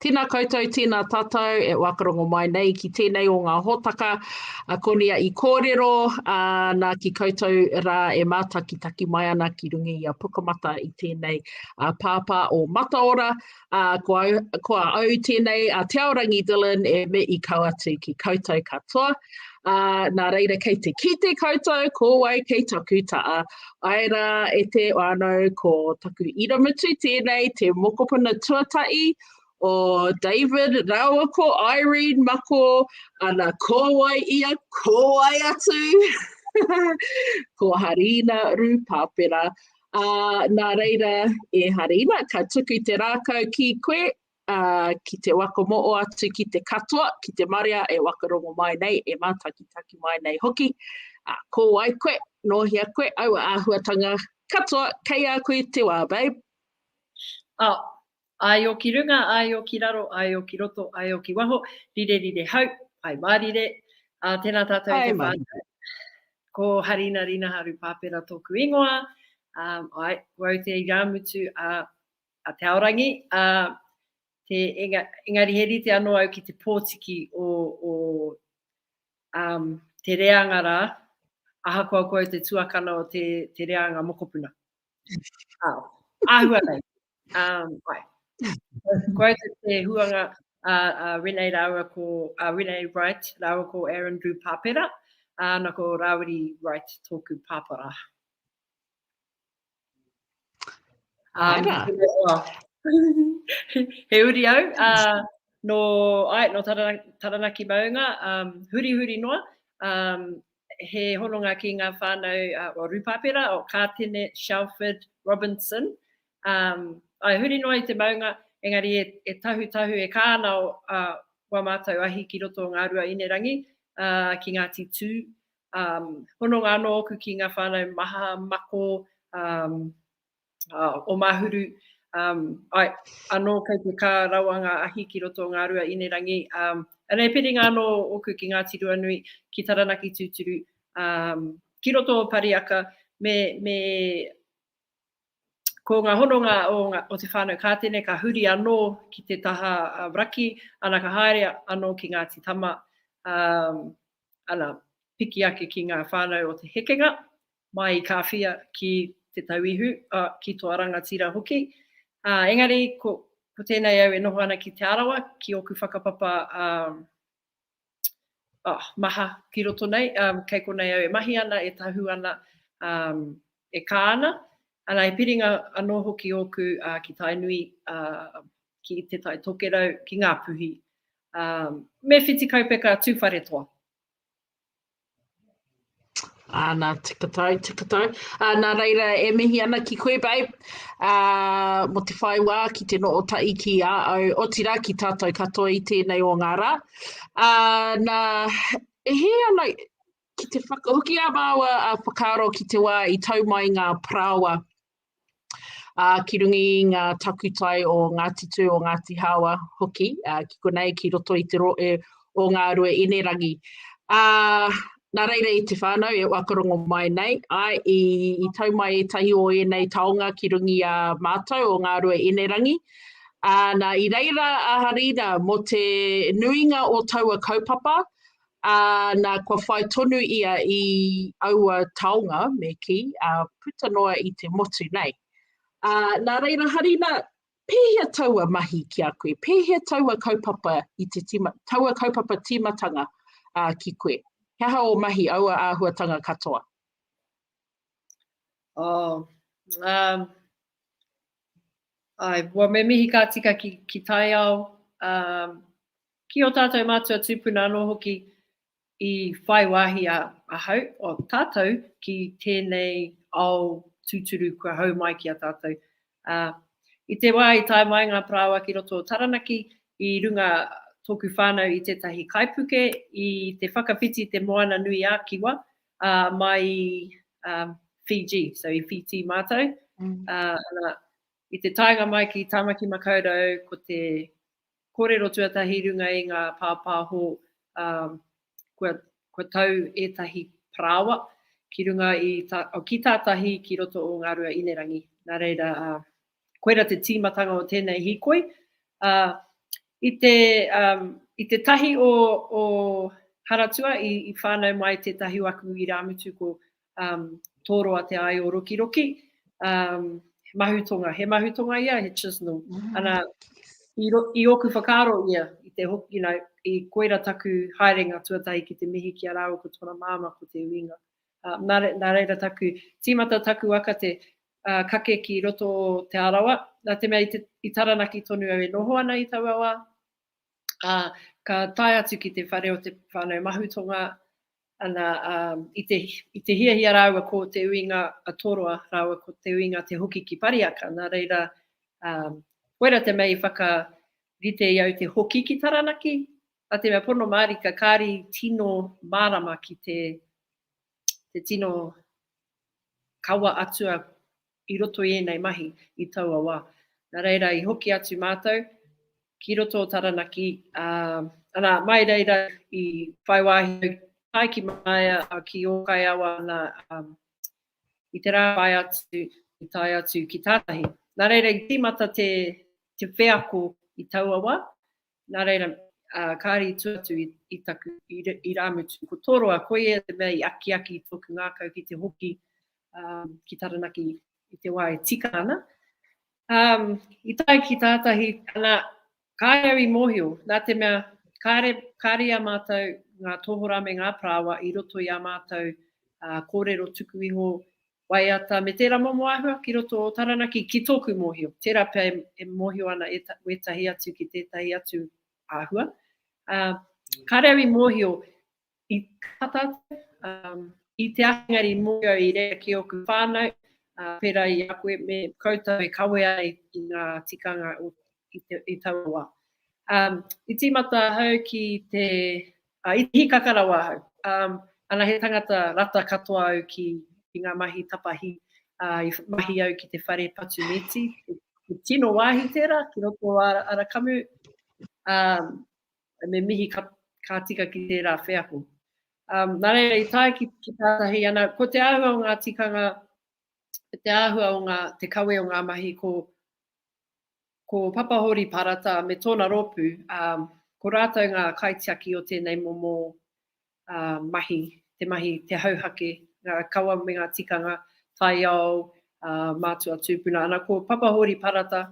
Tēnā koutou, tēnā tātou e whakarongo mai nei ki tēnei o ngā hōtaka a Konia i kōrero, ā, nā ki koutou rā e mātakitaki mai ana ki runga i a Pukamata i tēnei a Pāpā o Mataora, ā, ko au, ko au tēnei a Te Aorangi Dillon e me i kau atu ki koutou katoa. Ā, nā reira kei te kite koutou, ko wai kei taku taa, Ae rā e te whānau ko taku iramutu tēnei te mokopuna tuatahi o David rāua ko Irene Mako ana ko wai ia ko wai atu ko Harina Rūpāpera. Uh, nā reira, e Harina, ka tuku te rākau ki koe, ā, ki te whakamoa atu ki te katoa, ki te marea e whakarongo mai nei, e mātakitaki mai nei hoki, ā, ko wai koe, nō hea koe, aua āhuatanga katoa kei a koe te wā, babe. Ā, āe o ki runga, āe o ki raro, āe o ki roto, āe o ki waho, rire rire hau, āe mārire, ā, tēnā tātou i te whānau. Ko Harina Rinaharu Pāpera tōku ingoa, ā, āe, wau te irāmutu a a Te Aorangi, ā, te, enga, engari he rite anō au ki te pōtiki o, o um, te reanga rā, ahakoa koe te tuakana o te, te reanga mokopuna. Ā, āhua nei. Um, ai. Koe te, te huanga a, a Renee rāua ko, a Renee Wright rāua ko Aaron Drew Pāpera, āna ko Rāwiri Wright tōku pāpara. Um, he uri au, uh, no, ai, no Taranaki, Taranaki Maunga, um, huri huri noa, um, he hononga ki ngā whānau uh, o Rupapera, o Kātene, Shelford, Robinson. Um, ai huri noa i te maunga, engari e, e tahu tahu e kāna o uh, wā mātou ahi ki roto o ngā rua inerangi, uh, ki Ngāti Tū, Hononga anō ōku ki ngā whānau maha, mako, o Mahuru, āe, anō kei te kā rawa ngā ahi ki roto o Ngārua Inerangi. Anei piringa anō ōku ki Ngāti Ruanui, ki Taranaki tūturu, ki roto o Pariaka, me, me, ko ngā hononga o ngā, o te whānau Kātene ka huri anō ki te taha raki, ana ka haere anō ki Ngāti Tama, ana, piki ake ki ngā whānau o te hekenga, mai i Kāwhia ki Te Tauihu, ā, ki tō Rangatira hoki. Ā, engari, ko, ko tēnei au e noho ana ki Te Arawa, ki ōku whakapapa, ā, ā, maha ki roto nei, ā, kei konei au e mahi ana, e tahū ana, ā, e kā ana. Ana, he piringa anō hoki ōku, ā, ki Tainui, ā, ki Te Tai Tokerau, ki Ngāpuhi, Me whiti kaupeka tuwharetoa. Ana, tika tau, tika tau. Ana reira e mihi ana ki koe babe, uh, mo te whai wā ki te noo tai ki a au, otira ki tātou katoa i tēnei o ngā rā. Ana, e he ana, ki te whakahoki a māua a whakaaro ki te wā i tau mai ngā parawa ā, ki runga i ngā takutai o Ngāti Tū, o Ngāti Hāwa hoki, ā, ki konei, ki roto i te rohe o Ngārue Inerangi. Ā, nā reira i te whānau e whakarongo mai nei, āe, i, i tau mai ētahi o ēnei taonga ki runga i a mātou o Ngārue Inerangi, ā, nā, i reira a Harina mō te nuinga o taua kaupapa, Ā, nā, kua whai tonu ia i aua taonga, me kī, ā, puta noa i te motu nei. Ā, nā reira, Harina, pēhea taua mahi ki a koe? Pēhea taua kaupapa i te tīma, taua kaupapa tīmatanga, ā, ki koe? He aha ō mahi, aua āhuatanga katoa? Oh, um, ai, well, me mihi ka tika ki, ki taiao, um, Ki ō tātou mātua tūpuna anō hoki i whai wāhi ahau, o tātou, ki tēnei ao tūturu kua hau mai ki a tātou. Ā, i te wā i tae mai ngā parāoa ki roto o Taranaki, i runga tōku whānau i tētahi kaipuke i te whakawhiti i te Moana nui ā Kiwa, ā, mai i, ā, Fiji, so i Whītī mātou. Ā, nā, i te taenga mai ki Tāmaki Makaurau ko te Kōrero tuatahi runga i ngā pāpāho Kua tau ētahi parāoa ki runga i ki tātahi ki roto o Ngārua Inerangi Nā reira, koira te tīmatanga o tēnei hīkoi I te i te tahi o Haratua i whānau mai tētahi o aku irāmutu ko um, tōroa te aio rokiroki, um, he mahutonga, he mahutonga ia, he chisenal. Mm. Ana, i, ro, i oku whakaaro ia, i te hoki, you know, i koira taku haerenga tuatahi ki te mihi ki a rāua ko tōna māma, ko te uinga. Uh, nā, re, nā reira taku, tīmata taku akate, uh, kake ki roto te arawa, nā te mea i, te, i taranaki tonu au e noho ana i taua wā, uh, ka tae atu ki te whare o te whānau mahutonga, Ana, ā, i te, i te hiahia rāua ko Te Uinga a Toroa rāua ko Te Uinga te hoki ki Pariaka, nā reira, ā, koira te mea i whakarite i au te hoki ki Taranaki, nā te mea pono mārika, kāri tino mārama ki te, te tino kawa atua i roto i ēnei mahi i taua wā. Nā reira i hoki atu mātou ki roto o Taranaki, ā, anā, mai reira i whai wāhi au tae ki Māia, ā, ki Ōkaiawa, anā, ā, i te rā whai atu i tae atu ki tātahi. Nā reira i tīmata te wheako i taua wā, Nā reira, ā, kāre i tua atu i taku irāmutu. Ko Toroa, koia te mea i akiaki i tōku ngākau ki te hoki ki Taranaki i te wā e tika ana. Ā, i tae ki tātahi, ana, kāre au i mōhio, nā te mea, kāre, kāre i a mātou ngā tohorā me ngā parāoa i roto i ā mātou kōrero tuku iho Waiata me tērā momo āhua ki roto o Taranaki ki tōku mōhio. Tērā pea e mōhio ana wētahi atu ki tētahi atu āhua. Kāre au i mōhio i kā tātou, i te āhengari i mōhio au i reira ki ōku whānau, pērā i a koe me koutou e kawea ai i ngā tikanga i taua wā. I tīmata ahau ki te Ā, i hīkaka rawa ahau. Ā, ana he tangata rata katoa au ki, ki ngā mahi tapahi, ā, i mahi au ki te whare patu mīti, he tino wāhi tērā ki roto o Arakamu, ā, me mihi ka, ka tika ki tērā wheako. Ā, nā reira i tae ki, ki tātahi, ana, ko te āhua o ngā tikanga, te āhua o ngā, te kawe o ngā mahi, ko, Ko Papa Hōri Parata me tōna rōpū, ā, ko rātou ngā kaitiaki o tēnei momo mahi, te mahi, te hauhake, ngā kawa me ngā tikanga, taiao, ā, mātua tūpuna. Ana, ko Papa Hōri Parata,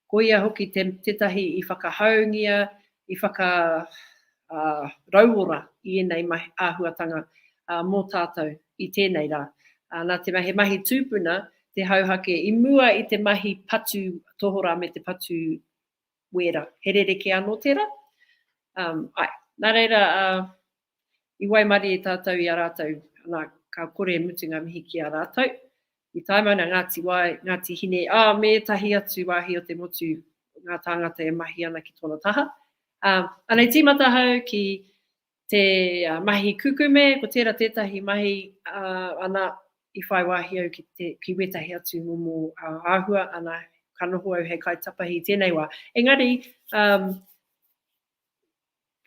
ko ia hoki tētahi i whakahaungia i whakarauora i ēnei mahi āhuatanga mō tātou i tēnei rā. Nā te mea he mahi tūpuna te hauhake i mua i te mahi patu tohorā me te patu wēra. He rerekē anō tērā? Āe. Nā reira, I waimarie tātou i a rātou, nā, ka kore e mutu ngā mihi ki a rātou. I tae mai nā Ngāti Wai, Ngāti Hine, ā, me ētahi atu wāhi o te motu, ngā tāngata e mahi ana ki tōna taha. Ā, anei tīmata ahau ki te mahi kukume, ko tērā tētahi mahi, ā, ana, i whai wāhi au ki te, ki wētahi atu momo āhua, ana, ka noho au hei kaitapahi i tēnei wā. Engari, ā,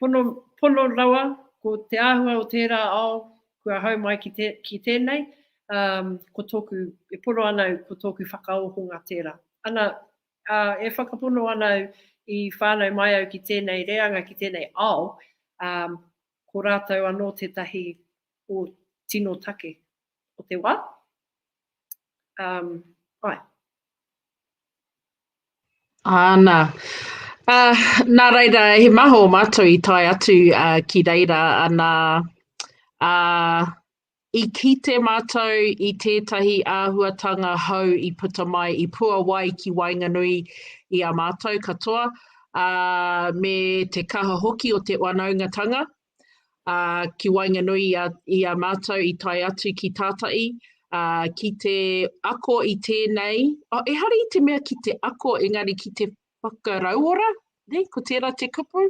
pono, pono rawa, ko te āhua o tērā ao kua hau mai ki, te, ki tēnei, um, ko tōku, e pono ana au, ko tōku whakaohonga tērā. Ana, uh, e whakapono ana au i whānau mai au ki tēnei reanga, ki tēnei ao, um, ko rātou anō tētahi o tino take o te wā. Um, ai. Āna. Ā, nā reira, he maha o mātou i tae atu ā, ki reira, anā, ā, i kite mātou i tētahi āhuatanga hou i puta mai i Puawai ki waenganui i a mātou katoa, ā, me te kaha hoki o te whanaungatanga, ā, ki waenganui i a mātou i tae atu ki tātai, ā, ki te ako i tēnei, oh, ehara i te mea ki te ako, engari ki te whakarauora, nei, ko tērā te kupu,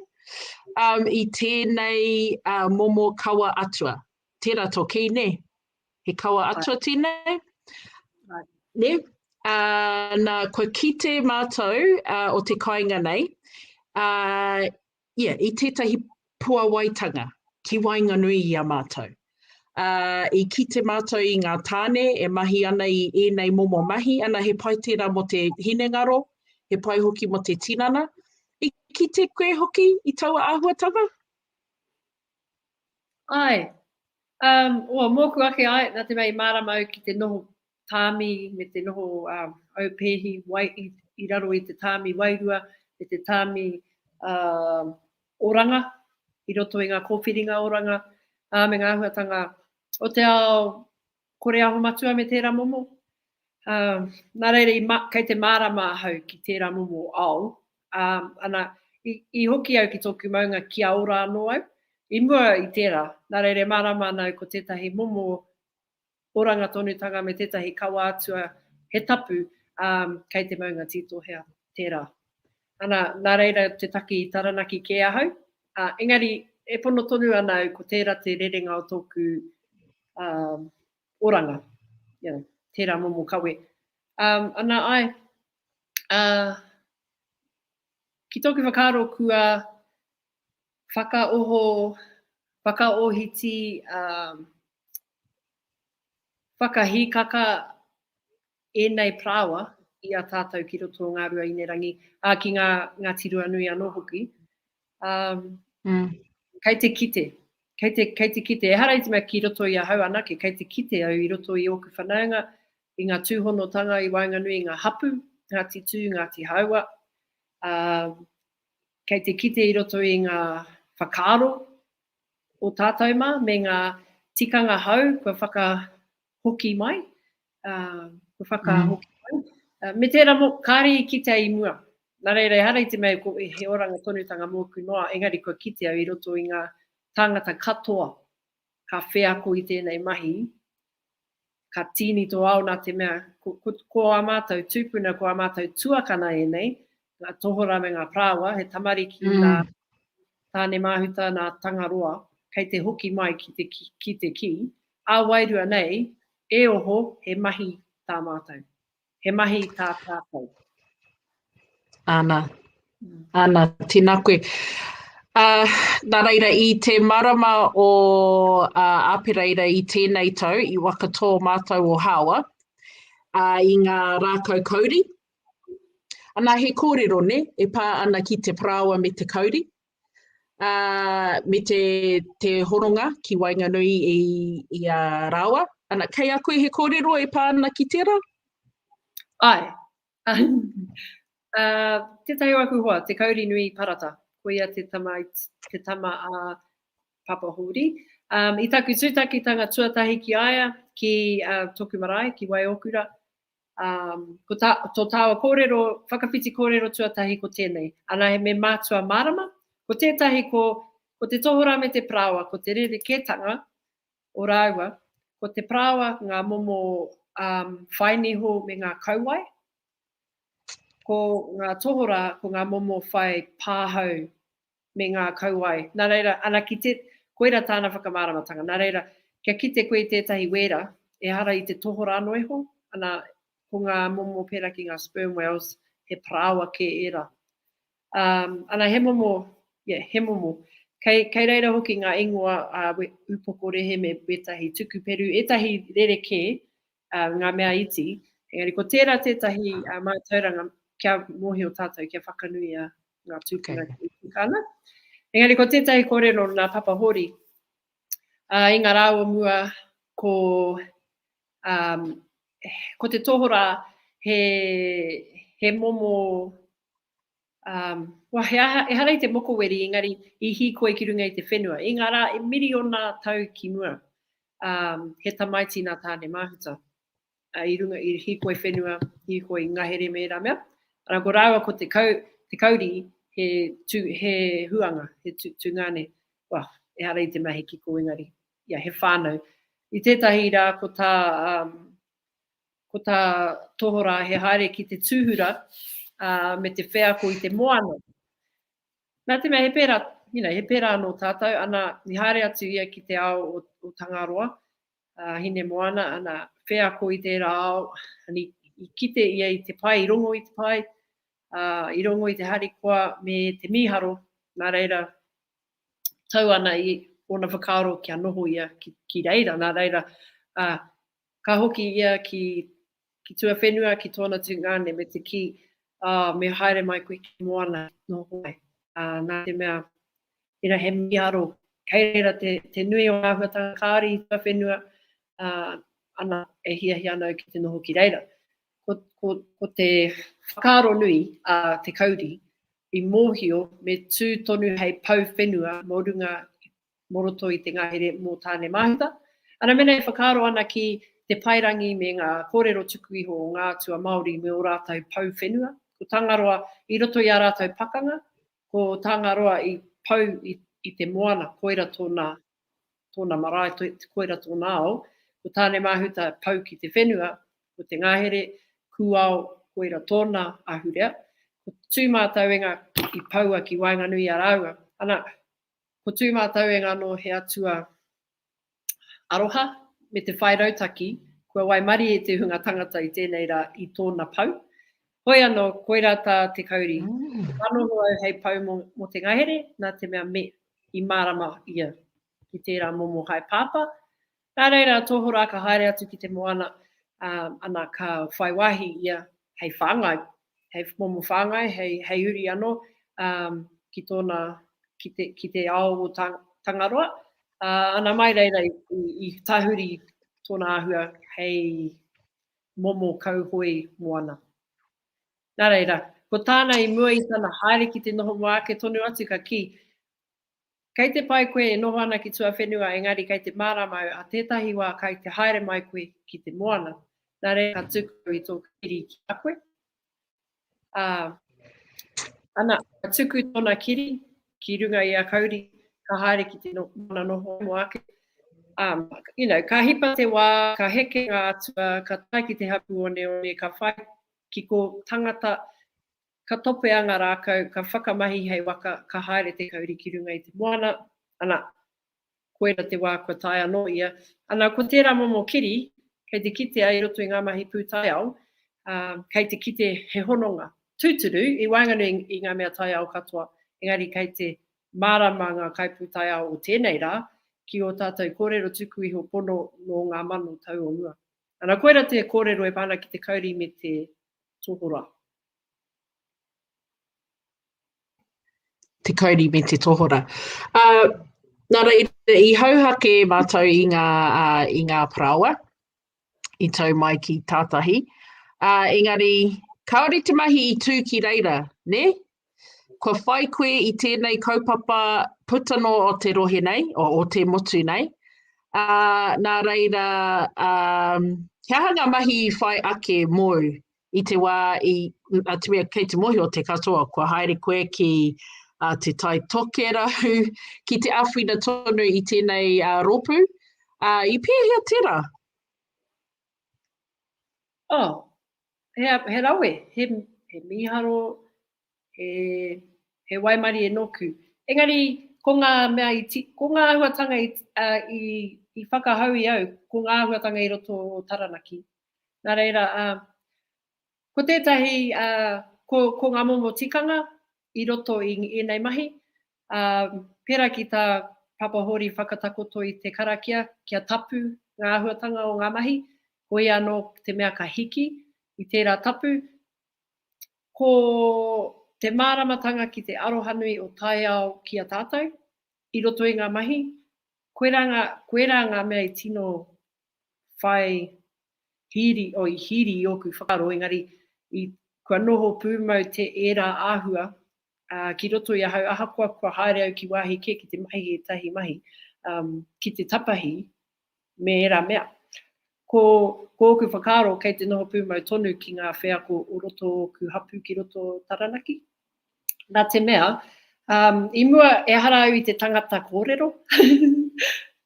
um, i tēnei uh, momo kawa atua. Tērā tō kī, ne? He kawa atua right. tēnei? Right. Ne? Uh, nā, kua kite mātou uh, o te kāinga nei, uh, ia, i tētahi puawaitanga ki waenganui i a mātou. Ā, i kite mātou i ngā tāne e mahi ana i ēnei momo mahi, ana he pai tērā mō te hinengaro, he pai hoki mō te tinana. I kite koe hoki i taua āhuatanga? Āe. Um, o, mōku ake, āe, nā te mea i mārama au ki te noho tāmi me te noho aupēhi wai i raro i te tāmi wairua me te tāmi oranga i roto i ngā kōwhiringa oranga me ngā āhuatanga o te ao kore aho matua me tērā momo. Nā reira, kei te mārama ahau ki tērā momo ao, ana, i hoki au ki tōku maunga kia ora anō au, i mua i tērā, nā reira e mārama ana au ko tētahi momo oranga tonutanga me tētahi kawa atua he tapu, ā, kei te maunga tītohea tērā. Ana, nā reira te taki i Taranaki kē ahau, ā, engari e pono tonu ana au ko tērā te rerenga o tōku, ā, oranga, you know, tērā momo kawe. Ā, ana, āe, ā, ki tōku whakaaro kua whakaoho, whakaohiti, ā, whakahikaka ēnei parāoa i a tātou ki roto o Ngārua Inerangi, ā, ki ngā Ngāti Ruanui anō hoki. Ā, kei te kite, kei te, kei te kite, ehara i te mea ki roto i ahau anake, kei te kite au i roto i ōku whanaunga, i ngā tūhonotanga i waenganui i ngā hapū, Ngāti Tū, Ngāti Hāua, ā, Kei te kite i roto i ngā whakaaro o tātou mā me ngā tikanga hou kua whakahoki mai, kua whakahoki mai. Me tērā mō, kāre i kitea i mua. Nā reira, ehara i te mea he oranga tonutanga mōku noa, engari kua kitea i roto i ngā tāngata katoa ka wheako i tēnei mahi, ka tīni tō ao nā te mea, ko, ko, ko ā mātou tūpuna, ko ā mātou tuakana ēnei, ngā tohorā me ngā parāoa, he tamariki mm. nā Tāne Māhuta, nā Tangaroa, kei te hoki mai ki te ki, ki te ki, ā wairua nei, e oho, he mahi tā mātou. He mahi tā tātou. Ana, ana, tina koe. Uh, nā reira, i te marama o uh, Apereira i tēnei tau, i wakatō mātou o Hāwa, uh, i ngā rākau kauri. Ana, he kōrero, ne, e pā ana ki te parāoa me te kauri. ā, me te, te horonga ki waenganui i, i a rāua. Ana, kei a koe he kōrero e pā ana ki tērā? Āe. ā, tētahi o aku hoa, te kauri nui i Parata, ko ia te tama, te tama a Papa Hōri. Ā, i taku tūtakitanga tuatahi ki a ia, ki ā, tōku marae, ki Waiokura, Ko tā, tō tāua kōrero, whakawhiti kōrero tuatahi ko tēnei, anahe me mātua mārama, ko tētahi ko, ko te tohorā me te parāoa, ko te rerekētanga o rāua, ko te parāoa ngā momo um, whai niho me ngā kauae, ko ngā tohorā ko ngā momo whai pāhau me ngā kauae, nā reira, ana ki te, koira tāna whakamāramatanga, nā reira, kia kite koe i tētahi wēra, ehara i te tohorā noa iho, ana, ko ngā momo pērā ki ngā sperm whales, he parāoa kē ērā. Um, ana, he momo, yeah, he momo. Kei, kei reira hoki ngā ingoa a uh, Upoko Rehe me wētahi tuku peru, ētahi rerekē, ā, ngā mea iti, engari ko tērā tētahi mātauranga kia mōhio tātou, kia whakanuia ngā tūpuna e tika ana. Engari ko tētahi kōrero o nā Papa Hōri, ā, i ngā rā o mua ko, ā, ko te tohorā he, he momo, Wah, ehara i te mokoweri, engari i hīkoi ki runga i te whenua, i ngā rā e miriona tau ki mua, he tamaiti nā Tāne-māhuta, i runga, i hīkoi whenua, hīkoi ngahere me ērā mea, arā, ko rāua ko te kau, te kauri, he tū, he huanga, he tū, tūngane, wah, ehara i te mea he kiko, engari, ia, he whānau. I tētahi rā, ko tā, Ko tā Tohorā he haere ki te tūhura me te wheako i te moana. Nā te mea he pērā, you know, he pērā anō tātou, ana, i haere atu ia ki te ao o, o Tangaroa, a Hinemoana, ana, wheako i tērā ao, ana, i, i kite ia i te pae, i rongo i te pae, ā, i rongo i te harikoa me te mīharo, nā reira, tau ana i ōna whakaaro kia noho ia ki, ki reira, nā reira, ā, Ka hoki ia ki ki tuawhenua ki tōna tungāne me te kī, ā, me haere mai koe ki te moana noho mai, ā, nā te mea, tērā he mīharo, kei reira te, te nui o ngā āhuatanga kāri i tuawhenua, ā, ana, e hiahia ana au ki te noho ki reira. Ko, ko, ko te whakaaro nui a Te Kauri i mōhio me tū tonu hei pou whenua mō runga mō roto i te ngahere mō Tāne Māhuta. Ana mena e whakaaro ana ki te paerangi me ngā kōrero tuku iho o ngā atua Māori me ō rātou pou whenua, ko Tangaroa i roto i ā rātou pakanga, ko Tāngaroa i pau i te moana, koira tōna tōna marae, koira tōna ao, ko Tāne Māhuta pau ki te whenua, ko te ngahere kūao koira tōna ahurea, ko Tūmātauenga i poua ki waenganui i a rāua. Ana, Ko tū mātou e ngano he atua aroha me te whai rautaki kua waimarie te hunga tangata i tēnei rā i tōna pau. Hoi anō, koirā tā te kauri, He manoho au hei pau mō, mō te ngahere, nā te mea me, i mārama ia ki tērā momo haepāpā, Nā reira, tohorā ka haere atu ki te moana, ā, ana ka whai wāhi ia hei whāngai, hei momo whāngai, hei, hei uri anō, ā, ki tōna, ki te, ki te ao o Tang, Tangaroa, ā, ana mai reira i, i, i tahuri tōna āhua hei momo kauhoe moana. Nā reira, ko tāna i mua i tana haere ki te noho mō ake tonu atu ka kī, Kei te pai koe e noho ana ki tuawhenua engari kei te mārama au a tētahi wā kai te haere mai koe ki te moana, nā reira ka tuku au i tō kiri ki a koe. Ā, ana, ka tuku tōna kiri ki runga i a Kauri, ka haere ki te moana noho ai mō ake. Ā, you know, ka hipa te wā, ka heke ngā atua, ka tae ki te hapū oneone, ka whai ki kō tangata, Ka topea nga rākau, ka whakamahi hei waka, ka haere te kauri ki runga i te moana, ana, koina te wā kua tae anō ia. Ana, ko tērā momo kiri, kei te kitea i roto i ngā mahi pūtaiao, ā, kei te kite he hononga. Tūturu, i waenganui i ngā mea taiao katoa, engari kei te mārama ngā kaipūtaiao o tēnei rā ki ō tātou kōrero tuku iho pono nō ngā mano tau o mua. Ana, koira te kōrero e pā ana ki te kauri me te tohorā. te kauri me te tohora. Uh, nā reira, i hauhake mātou i ngā, uh, i ngā paraoa, i tau mai ki tātahi. Uh, engari, kāore te mahi i tū ki reira, ne? Kua whai koe i tēnei kaupapa puta no o te rohe nei, o, o te motu nei. Uh, nā reira, um, kia hanga mahi i whai ake mōu I te wā i a te mea kei te mōhio te katoa kua haere koe ki a te tai tokerau ki te awhina tonu i tēnei a ropu a i pēhea tera? Oh, he, he rawe, he, he mīharo, he, he waimarie nōku. Engari, ko ngā mea i, ti, ko ngā ahuatanga i, uh, i, i whakahau i au, ko ngā ahuatanga i roto o Taranaki, Nā reira, ā, ko tētahi, ā, ko, ko ngā momo tikanga i roto i ēnei mahi, ā, pērā ki tā Papa Hōri whakatakoto i te karakia kia tapu ngā āhuatanga o ngā mahi, ko ia anō te mea ka hiki i tērā tapu, ko te māramatanga ki te arohanui o taiao ki a tātou i roto i ngā mahi, koirā ngā, koirā ngā mea i tino whai hiri, oh, i hiri i ōku whakaaro, engari i, kua noho pūmau te ērā āhua uh, ki roto i ahau, ahakoa kua haere au ki wāhi kē ki te mahi ētahi mahi, um, ki te tapahi me ērā mea. Ko, ko ōku whakaaro kei te noho pūmau tonu ki ngā wheako o roto o ōku hapū ki roto Taranaki. Nā te mea, i mua, ehara au i te tangata kōrero.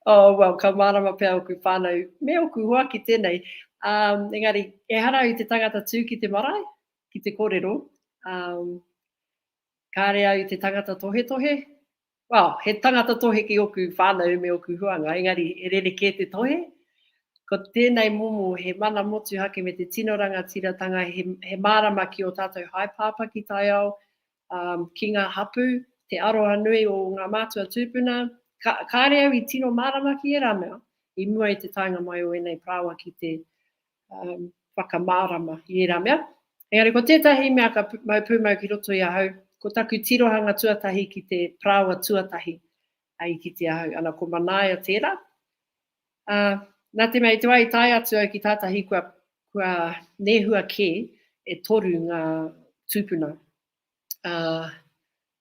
Oh, well, ka mārama pea ōku whānau me ōku hoa ki tēnei. Engari, ehara au i te tangata tū ki te marae, ki te kōrero. Kāre au i te tangata tohetohe, Well, he tangata tohe ki oku whanau me oku huanga, engari e rerekē te tohe. Ko tēnei momo he mana motuhake me te tino rangatiratanga, he mārama ki ō tātou haepāpā ki taiao, ki ngā hapū, te aroha nui o ngā mātua tūpuna. Kāre au i tino mārama ki ērā mea i mua i te taenga mai o ēnei parāoa ki te um, whakamārama i ērā mea. Engari ko tētahi mea ka mau pūmau ki roto i ahau, ko taku tirohanga tuatahi ki te parāoa tuatahi a i kite ahau. Ana ko Manaia tērā. Uh, nā te mea i te wai tae atu au ki tātahi kua, kua nehua kē e toru ngā tūpuna. Uh,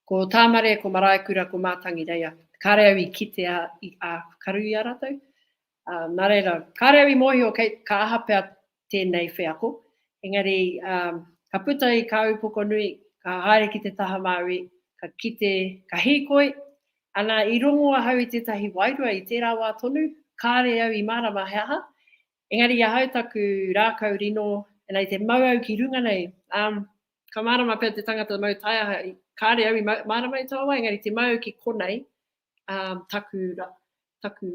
ko Tāmare, ko Maraekura, ko Mātangi Reia. Kāre au i kite a, i a karu i a rātou. Ā, nā reira, kāre au i mōhio kei, ka aha pea tēnei wheako, engari, ā, ka puta i kā upoko nui, ka haere ki te taha Māui, ka kite, ka hīkoi, ana, i rongo ahau i tētahi wairua i tērā wā tonu, kāre au i mārama he aha, engari i ahau taku rākau rino, ana i te mau au ki runga nei, ā, ka mārama pea te tangata mau taiaha, kāre au i mārama i taua wā, engari te mau au ki konei, taku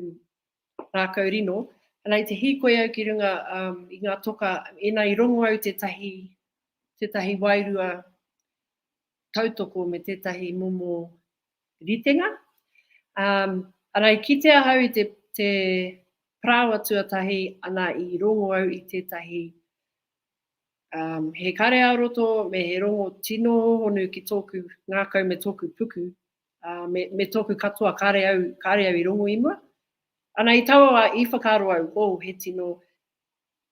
rākau rino, ana i te hīkoi au ki runga i ngā toka, ina i rongo au tētahi, tētahi wairua tautoko me tētahi momo ritenga, ana i kite ahau i te, te parāoa tuatahi, ana i rongo au i tētahi, he kareao roto me he rongo tino hōhonu ki tōku ngākau me tōku puku, Ā, me, me tōku katoa, kāre au, kāre au i rongo i mua. Ana i taua wā, i whakaaro au, oh, he tino,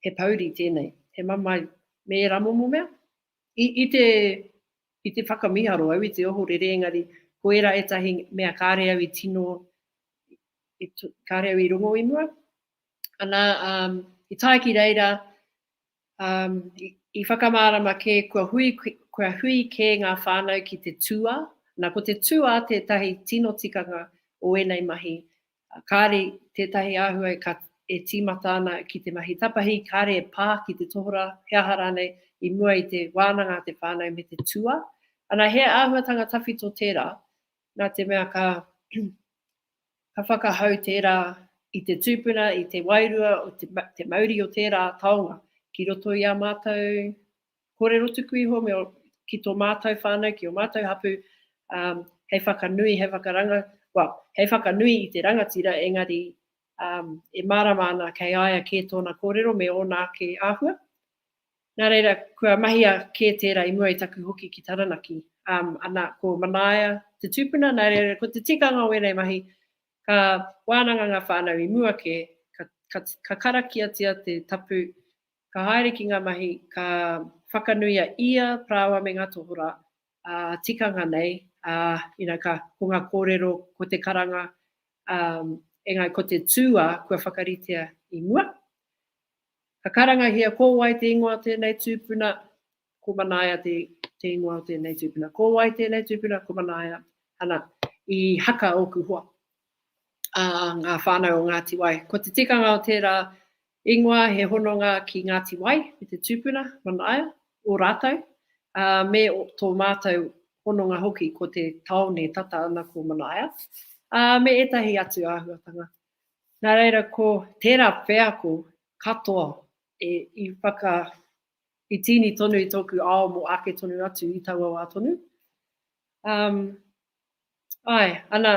he pouri tēnei, he mamae, me ērā momo mea. I, i te, i te whakamiharo au, i te ohorere, engari, ko ērā ētahi mea kāre au i tino, i, kāre au i rongo i mua. Ana, um, i tae ki reira, I whakamārama kē kua hui, kua hui kē ngā whānau ki te tūā. Nā, ko te tūā tētahi tino tikanga o ēnei mahi. Kāre tētahi āhua e tīmata ana ki te mahi tapahi, kāre e pā ki te tohorā, he aha rānei, i mua i te wānanga a te whānau me te tūā. Ana, he āhuatanga tawhito tērā, nā te mea ka Ka whakahau tērā i te tūpuna, i te wairua, te mauri o tērā taonga ki roto i ā mātou kōrero tuku iho me ki tō mātou whānau, ki ō mātou hapū, hei whakanui, hei whakaranga, well, hei whakanui i te rangatira engari e mārama ana kei a ia kē tōna kōrero me ōna ake āhua. Nā reira, kua mahia kē tērā i mua i taku hoki ki Taranaki. Ana, ko Manaia te tūpuna, nā reira, ko te tikanga o ēnei mahi, ka wānanga ngā whānau i mua kē, ka, ka, ka karakiatia te tapu, ka haere ki ngā mahi, ka whakanui a ia, Parāoa me ngā tohorā, ā, tikanga nei, ā, you know, ka, ko ngā kōrero, ko te karanga, ā, engari ko te tūā kua whakaritea i mua. Ka karangahia, Ko wai te ingoa o tēnei tūpuna? Ko Manaia te, te ingoa o tēnei tūpuna. Ko wai tēnei tūpuna? Ko Manaia. Ana, i haka ōku hoa. Ā, ngā whānau o Ngāti Wai. Ko te tikanga o tērā ingoa he hononga ki Ngāti Wai me te tūpuna, Manaia, o rātou, ā, me tō mātou hononga hoki ko te tāone tata ana ko Manaia, ā, me ētahi atu āhuatanga. Nā reira ko tērā wheako katoa i whaka, i tīni tonu i tōku ao mō ake tonu atu i taua wā tonu. Āe, ana,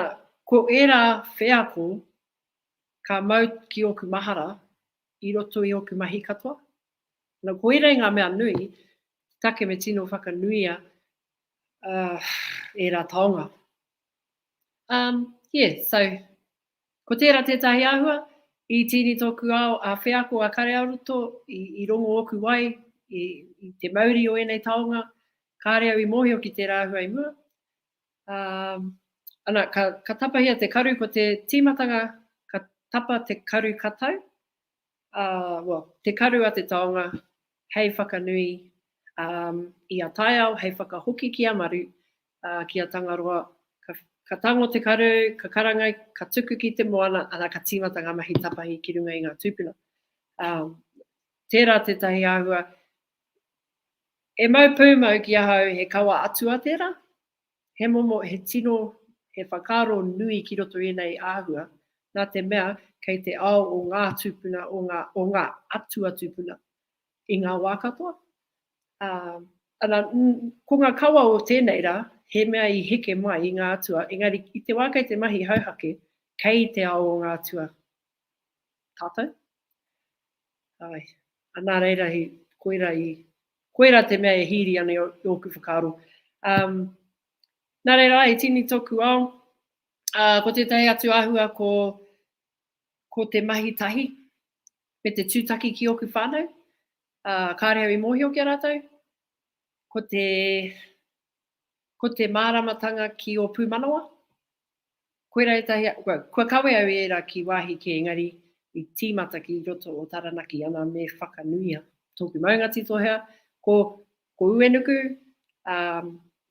ko ērā wheako ka mau ki ōku mahara i roto i ōku mahi katoa. Nō koira i ngā mea nui, take me tino whakanuia ērā taonga. Umm, yeah, so Ko tērā tētahi āhua, i tīni tōku ao a wheako a Kareaoroto, i rongo ōku wai i te mauri o ēnei taonga, kāre au i mōhio ki tērā āhua i mua. Ā, ana, ka tapahia te karu, ko te tīmatanga ka tapa te karu katau, well, te karu a te taonga hei whakanui i a taiao, hei whakahoki ki a Maru, ki a Tangaroa, ka tango te karu, ka karanga, ka tuku ki te moana, ana ka timata nga mahi tapahi ki runga i nga tupuna. Tera tetahi ahua, e mau pumau ki ahau he kawa atua tera, He momo, he tino, he whakaaro nui ki roto i ēnei āhua, nā te mea kei te ao o ngā tūpuna, o ngā, o ngā atua tūpuna i ngā wā katoa. Ā, ana, ko ngā kawa o tēnei rā, he mea i heke mai i ngā atua, engari i te wā kei te mahi hauhake, kei te ao o ngā atua tātou. Āe. Anā reira he koira i, koira te mea e hīri ana i ōku whakaaro. Um, nā reira, āe, he tini tōku ao. Uh, ko tētahi atu āhua ko, ko te mahi tahi me te tūtaki ki ōku whānau. Uh, kāre au i mōhio ki a rātou. Ko te, ko te māramatanga ki ō pūmanawa. Koira etahi, kua kawe au i era ki wahi ke engari i timata ki roto o Taranaki ana me whakanuia toku maunga titohea ko ko Uenuku, a,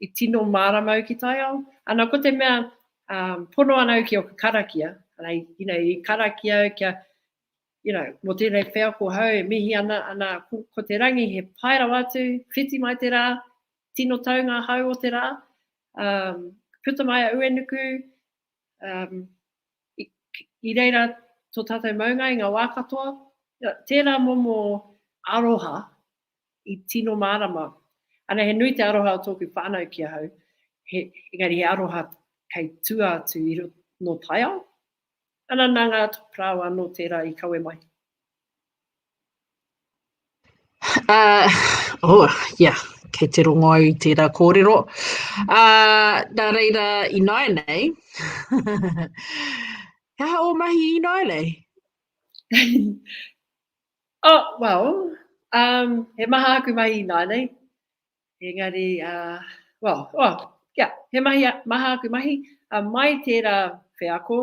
i tino marama au ki taiao, ana ko te mea, a, pono ana au ki oku karakia, ana i, you know, i karakia au kia, you know, mo tenei wheako hau e mihi ana, ana ko, ko te rangi he pai rawa atu, whiti mai te ra, tino tau nga hau o te ra, Um, puta mai a Uenuku, um, i, i reira tō tātou maunga i ngā wā katoa, tērā momo aroha i tino mārama. Ana he nui te aroha o tōku whānau ki ahau, he, engari he aroha kei tua atu i no taiao. Ana nā ngā parāoa nō tērā i kawe mai. Uh, oh, yeah, kei te rongo au i tērā kōrero. Uh, nā reira, i nāi nei, he aha o mahi i nāi nei? oh, well, um, he maha aku mahi i nāi nei. Engari, uh, well, oh, yeah, he mahi, maha aku mahi. Uh, mai tērā wheako,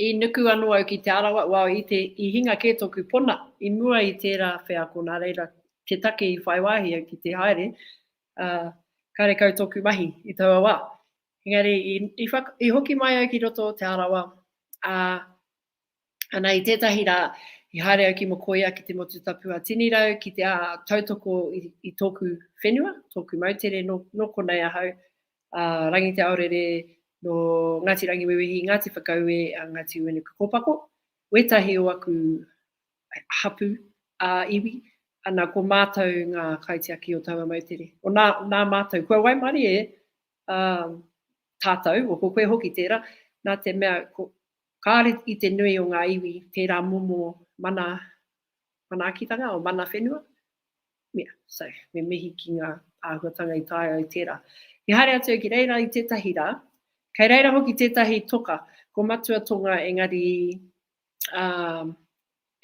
i nuku anō au ki Te Arawa, well i te, i hinga kē tōku pona i mua i tērā wheako nā reira te take i whai wāhi au ki te haere, karekau tōku mahi i taua wā. Engari i hoki mai au ki roto o Te Arawa, ā, Ana, i tētahi rā, i haere au ki Mokoia, ki te motu tapu a Tinirau, ki te aha, tautoko i tōku whenua, tōku moutere, nō konei ahau, a Rangi Te Aorere, nō Ngāti Rangiwewehi, Ngāti Whakaue, a Ngāti Uenukukōpako, wētahi o aku hapū ā-iwi, ana, ko mātou ngā kaitiaki o taua moutere. O nā, nā mātou, kua waimarie tātou, o ko koe hoki tērā, nā te mea, ko, Kāore i te nui o ngā iwi tērā momo mana manaakitanga, o mana whenua, mea, so, me mihi ki ngā āhuatanga i taea ai tērā. He haere atu au ki reira i tētahi rā, kei reira hoki tētahi toka, ko Matua Tonga engari, ā,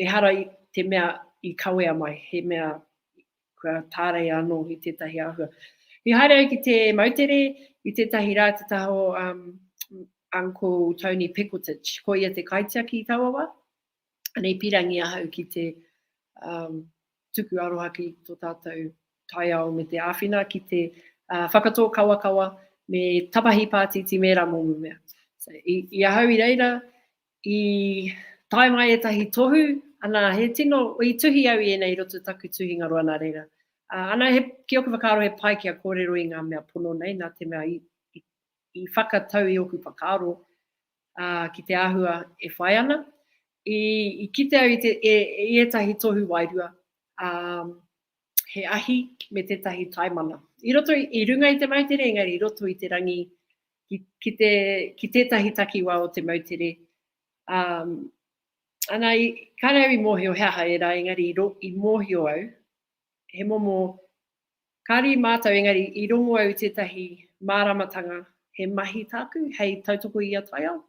Ehara i te mea i kawea mai, he mea kua tāreia anō i tētahi āhua. I haere au ki te moutere i tētahi rā te taha o um, Uncle Tony Pickeltich. Ko ia te kaitiaki i taua wā. Ana i pirangi ahau ki te um, tuku aroha ki tō tātou taiao me te āwhina ki te uh, whakatō kawakawa me tapahi pātiti me rā mōmu mea. So, i, i ahau i reira, I tae mai ētahi tohu, ana, he tino, i tuhi au i ēnei i roto i taku tuhinga roa nā reira. Ana, he, ki ōku whakaaro he pai kia kōrero i ngā mea pono nei, nā te mea i whakatau i ōku whakaaro ki te āhua e whai ana. I kite au i te, i ētahi tohu wairua, ā, he ahi me tētahi taimana. I roto i runga i te moutere, engari i roto i te rangi ki te, ki tētahi takiwā o te moutere. Um, ana, i, kāre au i mōhio he aha era, engari i, ro, i mōhio au, he momo, kāre i mātou, engari i rongo au tētahi māramatanga, he mahi tāku, hei tautoko i a taiao,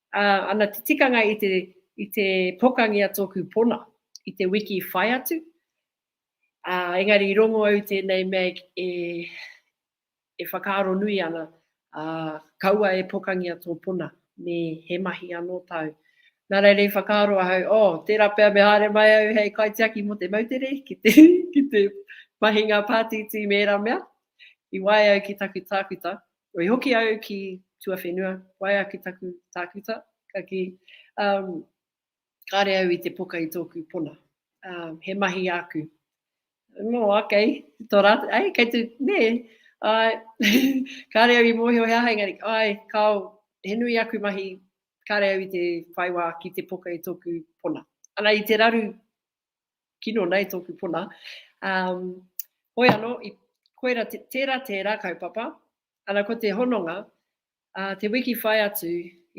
Ā, ana te tikanga i te, i te pokangia tōku pona, i te wiki i whai atu, ā, engari i rongo au i tēnei mea e, e whakaaro nui ana, ā, kaua e pokangia tō pona, me he mahi anō tāu. Nā reira i whakaaro ahau, oh, tērā pea me haere mai au hei kaitiaki mō te moutere, ki te, ki te mahinga pātītī me ērā mea, i wae au ki taku tākuta, Kua i hoki au ki tuawhenua, waea ki taku tākuta, ka kī, Um, kāre au i te poka i tōku pona. Um, he mahi āku. No, okay, tō rātou, ai, kei te, nē, ai, kāre au i mōhio he aha, engari, ai, kāo, he nui aku mahi, kāre au i te whaiwā ki te poka i tōku pona. Ana i te raru kino nei tōku puna. Hoi anō, koira tērā, tērā kaupapa. Ana ko te hononga, te wiki whai atu,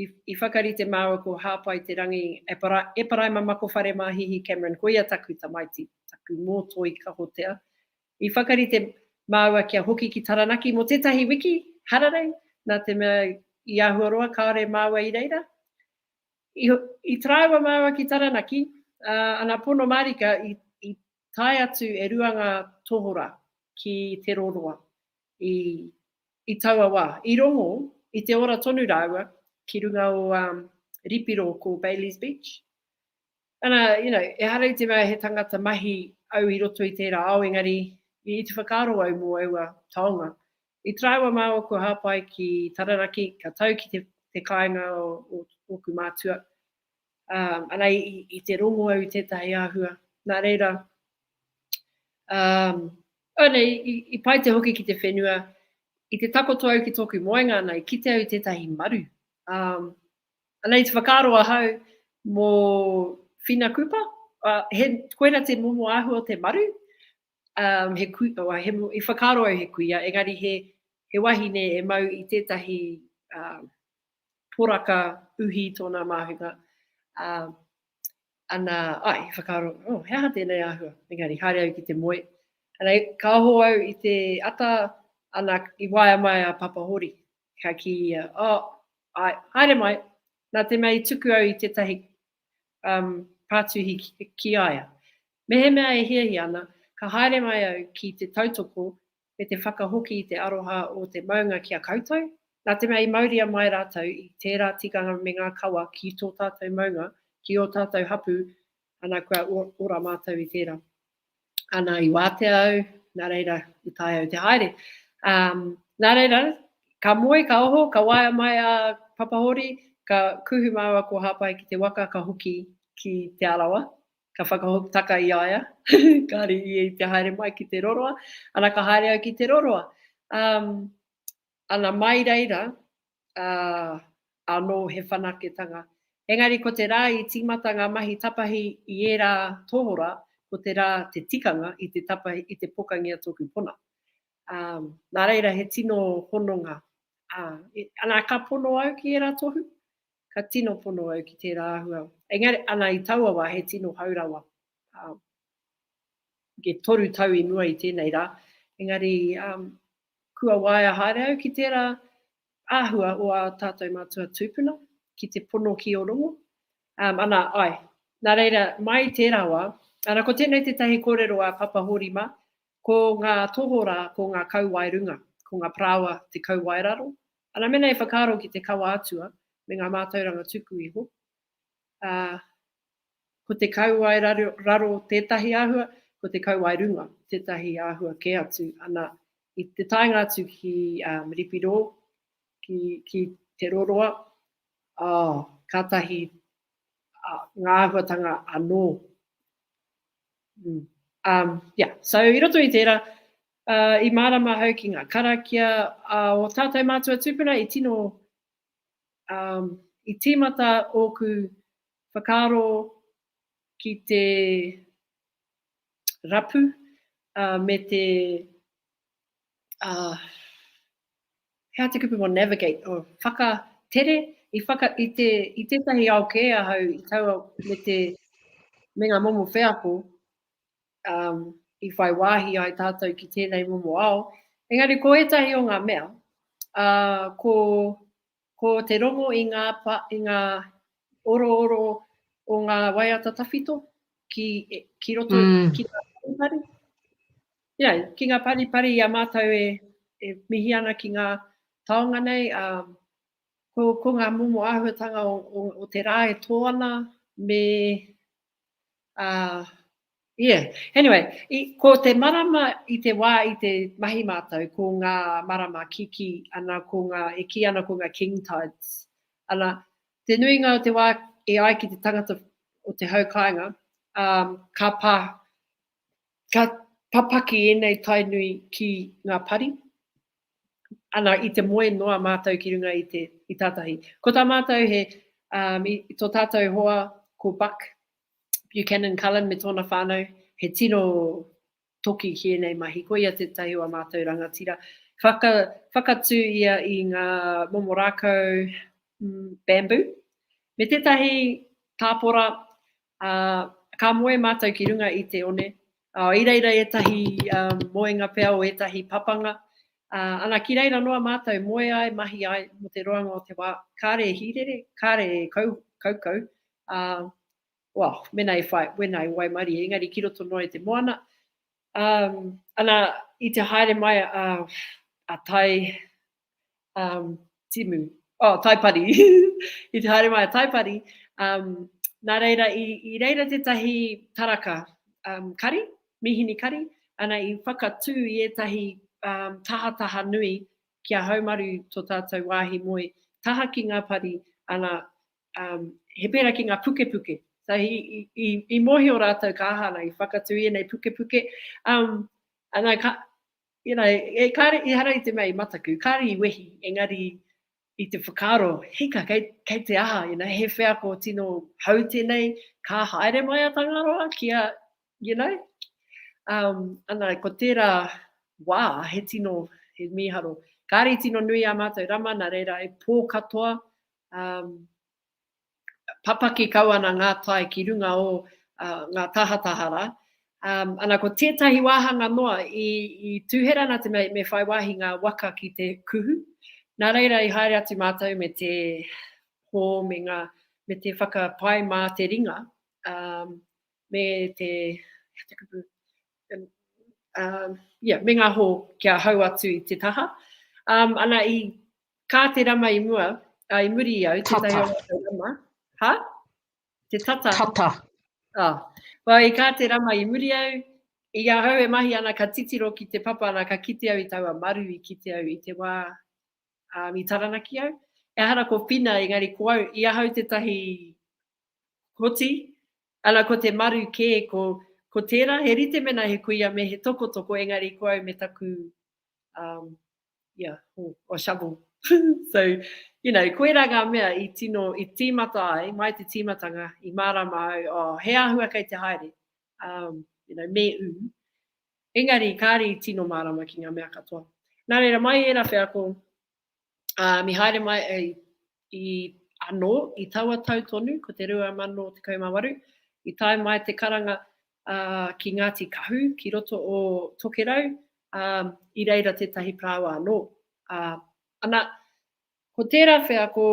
i whakarite māua ko Hāpai Te Rangi, Eparaima Makowhare mā Hihi Cameron, ko ia taku tamaiti, taku mōtoi kahotea. I whakarite māua kia hoki ki Taranaki mō tētahi wiki hararei, nā te mea i āhua roa kāore māua i reira. I taraiwa māu a ki Taranaki, ā, ana pono mārika i, i tae atu e rua ngā tohora ki Te Roroa i, i taua wā. I rongo, i te ora tonu rāua ki runga o, ā, Ripiro ko Bailey's Beach. Ana, you know, ehara i te mea he tangata mahi au i roto i tērā ao engari i te whakaaro au mō aua taonga. I taraiwa mā ōku hāpai ki Taranaki, ka tau ki te te kāinga o ōku mātua, ā, ana i i te rongo au i tētahi āhua, nā reira, ā, ana i i i pai te hoki ki te whenua, i te takoto au ki tōku moenga ana i kite au i tētahi maru, ā, Anei te whakaaro ahau mo Whina Kupa, he, koira te momo ahua o te maru, um, he kui, oh, he, i whakaaro au he kuia, engari he, he wahine e mau i tētahi uh, poraka uhi tōna māhunga. Uh, ana, ai, i whakaaro, oh, he aha tēnei ahua, engari haere au ki te moe. Ana, ka oho au i te ata, ana, i waia mai a Papa Hori. Ka kī ia, Oh, āe, haere mai, nā te mea i tuku au i tētahi um, pātuhi ki, ki a ia. Mehemea e hiahia ana, ka haere mai au ki te tautoko me te whakahoki i te aroha o te maunga ki a koutou, nā te mea i mauria mai rātou i tērā tikanga me ngā kawa ki tō tātou maunga, ki ō tātou hapū, Ana, kua ora mātou i tērā. Ana, i wātea au, nā reira, i taea au te haere. Nā reira, ka moe, ka oho, ka waea mai a Papahori, ka kuhu māua ko Hāpai ki te waka, ka hoki ki Te Arawa, ka whakataka i a ia, kāre ia i te haere mai ki te roroa. Ana, ka haere au ki te roroa. Ana mai reira, ā, anō he whanaketanga. Engari ko te rā i tīmata ngā mahi tapahi i ērā tohora, ko te rā te tikanga i te tapahi, i te pokangia tōku pona. Ā, nā reira he tino hononga. Ā, ana ka pono au ki ērā tohu, ka tino pono au ki tērā āhua. Engari, ana i taua wā he tino hau rawa. Ā, e toru tau i mua i tēnei rā, engari, ā, Kua waea haere au ki tērā āhua o ā tātou mātua tūpuna ki te pono ki Ōrongo, ana, āe. Nā reira, mai i tērā wā, ana, ko tēnei tētahi kōrero a Papa Hōri mā, ko ngā tohorā, ko ngā kauwae runga, ko ngā parāoa te kauwae raro, ana, mēnā e whakaaro ki te kawa atua me ngā mātauranga tuku iho, ā, Ko te kauae raro tētahi āhua, ko te kauae runga tētahi āhua kē atu. Ana, i te taenga atu ki Ripirō, ki Te Roroa, oh, kātahi ngā āhuatanga anō. Um, yeah, so i roto i tērā, uh, i mārama hau ki ngā karakia uh, o tātou mātua tūpuna i tino um, i tīmata ōku whakaaro ki te rapu me te he aha te kupu mō navigate, oh, whakatere, i, whaka, i, te, i tētahi ao kē ahau i taua me, te, me ngā momo wheako um, i whai wāhi ai tātou ki tēnei momo ao. Engari ko ētahi o ngā mea, uh, ko Ko te rongo i ngā pa, i ngā orooro o ngā waiata tawhito ki, ki roto mm. ki ngā paripari. Yeah, ki ngā paripari i a mātou e, e mihi ana ki ngā taonga nei, a, ko, ko ngā momo āhuatanga o, o, o te rā e tō ana, me Uh, yeah. Anyway, i, ko te marama i te wā i te mahi mātou, ko ngā marama kiki, ana ko ngā, e ki ana ko ngā king tides. Ana, te nuinga o te wā e ai ki te tangata o te hau kāinga, um, ka pā, ka papaki ēnei tainui ki ngā pari, ana i te moe noa mātou ki runga i tātahi. Ko tā mātou he, i tō tātou hoa ko Buck Buchanan Cullen me tōna whānau, he tino toki ki ēnei mahi. Ko ia tētahi o ā mātou rangatira. Whakatū ia i ngā momo rākau bamboo, me tētahi tāpora Ā, ka moe mātou ki runga i te one, ā, i reira ētahi moenga pea o ētahi papanga, ā, ana ki reira noa mātou moe ai, mahi ai mō te roanga o te wā, kāre e hīrere, kāre e kaukau, ā, well, mēnā e whai, wēnā e waimarie, engari ki roto noa i te moana, ā, ana i te haere mai a, a Tai, um, timu, oh, taipari, i te haere mai a taipari, um, nā reira, i, i reira tētahi taraka um, kari, mihini kari, ana i whakatū i ētahi um, tahataha nui ki a haumaru to tātou wāhi moe, taha ki ngā pari, ana um, he pērā ki ngā pukepuke. So i, i, i, i mohi o rātou ka aha ana, i whakatū i ēnei pukepuke. Um, ana ka, You know, e kare, ehara i te mea i mataku, kare i wehi, engari i te whakaaro, hika, kei, kei te aha, you know, he wheako tino hou tenei, ka haere mai a Tangaroa ki a, you know, um, ana, ko tera wa, he tino, he miharo. Kare i tino nui a matou rama, na reira e po katoa, um, papaki kau ana ngā tae ki runga o ngā tahataha rā. Ana, ko tētahi wāhanga noa, i tūhera ana te mea me whai wāhi ngā waka ki te kuhu. Nā reira i haere atu mātou me te hō me ngā, me te whakapai mā te ringa, me te, he aha te kupu, ia, me ngā hō kia hau atu i te taha. Ana, i Ka te rama i mua, a, i muri i au, tētahi o rātou rama. Ha? Te tata? Tata. A, wai, i ka te rama i muri au, i ahau e mahi ana ka titiro ki te papa ana ka kite au i taua maru i kite au i te wā, a, i taranaki au. Ehara ko Whina, engari ko au, i ahau tētahi hoti, ana ko te maru kē, ko, ko tērā, he rite mēnā he kuia me he tokotoko, engari ko au me taku, um, ia, or, or a shovel. so, you know, koirā ngā mea i tino, i tīmata ai, mai te tīmatanga, i mārāma au, oh, he āhua kei te haere, um, you know, me ū. Engari, kāre i tino mārāma ki ngā mea katoa. Nā reira, mai ērā wheako, um, i haere mai, i I, anō, i taua tau tonu, ko te 2018, i tae mai te karanga, ā, ki Ngāti Kahu, ki roto o Tokerau, ā, i reira tētahi parāoa anō, ā, ana, ko tērā wheako,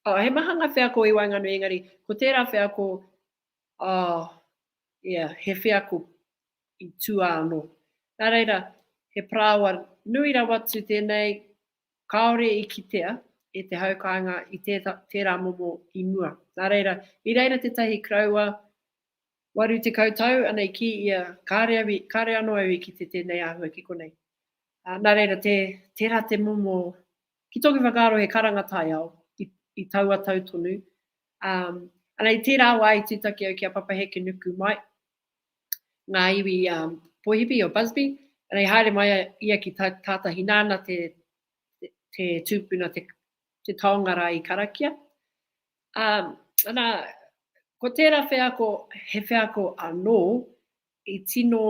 ā, he maha ngā wheako i waenganui, engari, ko tērā wheako, ā, ia, he wheako i tua anō. Nā reira, he parāoa nui rawa atu tēnei, Kāore i kitea e te hau kāinga i tērā momo i mua. Nā reira, i reira tētahi koroua 80 tau, ana i kī ia, kāore anō au i kite tēnei āhua ki konei. Nā reira, tērā te momo, ki tōku whakaaro he karanga taiao, i taua tau tonu, ā, ana i tērā wā i tūtaki au ki a Papa Hekenuku mai, ngā iwi Poihipi o Busby, rei haere mai ia ki Tātahi nāna te te tūpuna te taonga rā i karakia. Ana, ko tērā wheako he wheako anō i tino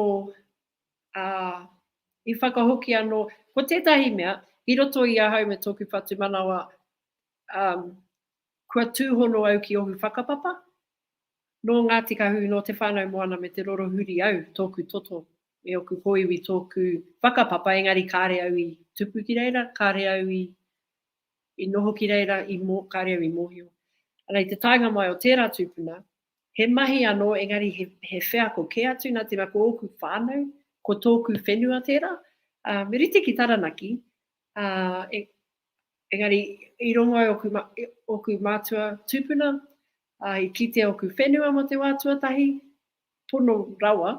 i whakahoki anō, ko tētahi mea i roto i ahau me tōku whatumanawa Kua tūhono au ki ohu whakapapa? Nō Ngāti Kahu, nō Te Whānau Moana me Te Rorohuri au, tōku toto, e oku hōiwi tōku whakapapa engari kāre au i tupu ki reira, kāre au i i noho ki reira, i mō, kāre au i mōhio. Ana i te taenga mai o tērā tūpuna, he mahi anō engari he, he wheako kē atu nā tēnā ko ōku whānau, ko tōku whenua tērā. Ā, me rite ki Taranaki, Ā, e, engari, i rongo ai ōku, ōku mātua tūpuna, ā, i kitea ōku whenua mō te wā tuatahi, pono rawa,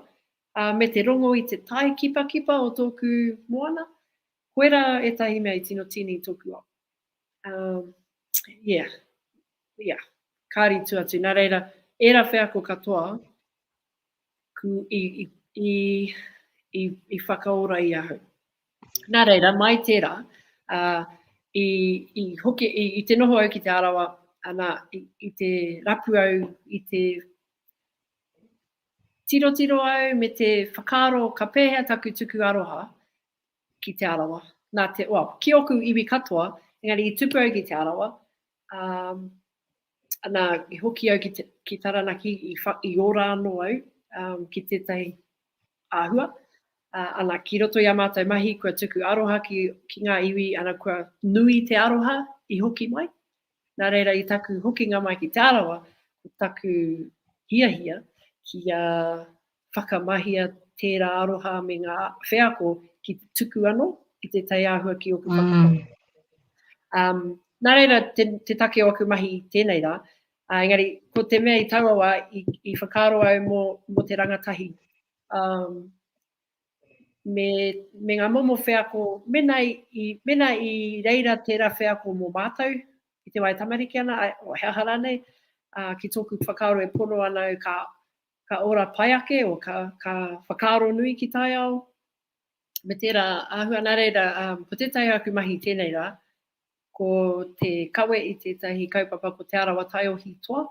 ā, me te rongo i te tae kipakipa o tōku moana, koe rā ētahi mea i tino tīni i tōku ao. Ā, ia, ia, kāri tū atu, nā reira, ērā wheako katoa, ku, i, i, i, i, i whakaora i ahau. Nā reira, mai tērā, ā, i, i hoki, i, i te noho au ki Te Arawa, ana, i, i te rapu au, i te tirotiro au me te whakaaro ka pēhea taku tuku aroha ki Te Arawa. Nā te, well, ki oku iwi katoa, engari i tupu au ki Te Arawa, um, Nā, i hoki au ki, ki Taranaki, i, wha, i ora anō au um, ki tētahi āhua. Uh, ana, ki roto i a mātou mahi, kua tuku aroha ki, ki ngā iwi, ana, kua nui te aroha i hoki mai. Nā reira, i taku hokinga mai ki Te Arawa, ko taku hiahia ki a whakamahia tērā aroha me ngā wheako ki te tuku ano i te tai āhua ki oku whakapapa. Um, nā reira, te, te take o aku mahi tēnei rā, uh, engari, ko te mea i taua wā, i, i whakaaro au mō, mō te rangatahi. Um, me, me ngā momo wheako, mena i, mena i reira tērā wheako mō mātou, i te wae tamariki ana, o he aha rānei, uh, ki tōku whakaaro e pono ana au ka, Ka ora pai ake, or ka, ka whakaaro nui ki taiao, me tera ahua, na reira, um, ko tetahi o aku mahi tenei ra, ko te kawe i tetahi kaupapa ko Te Arawa Taiohi Toa,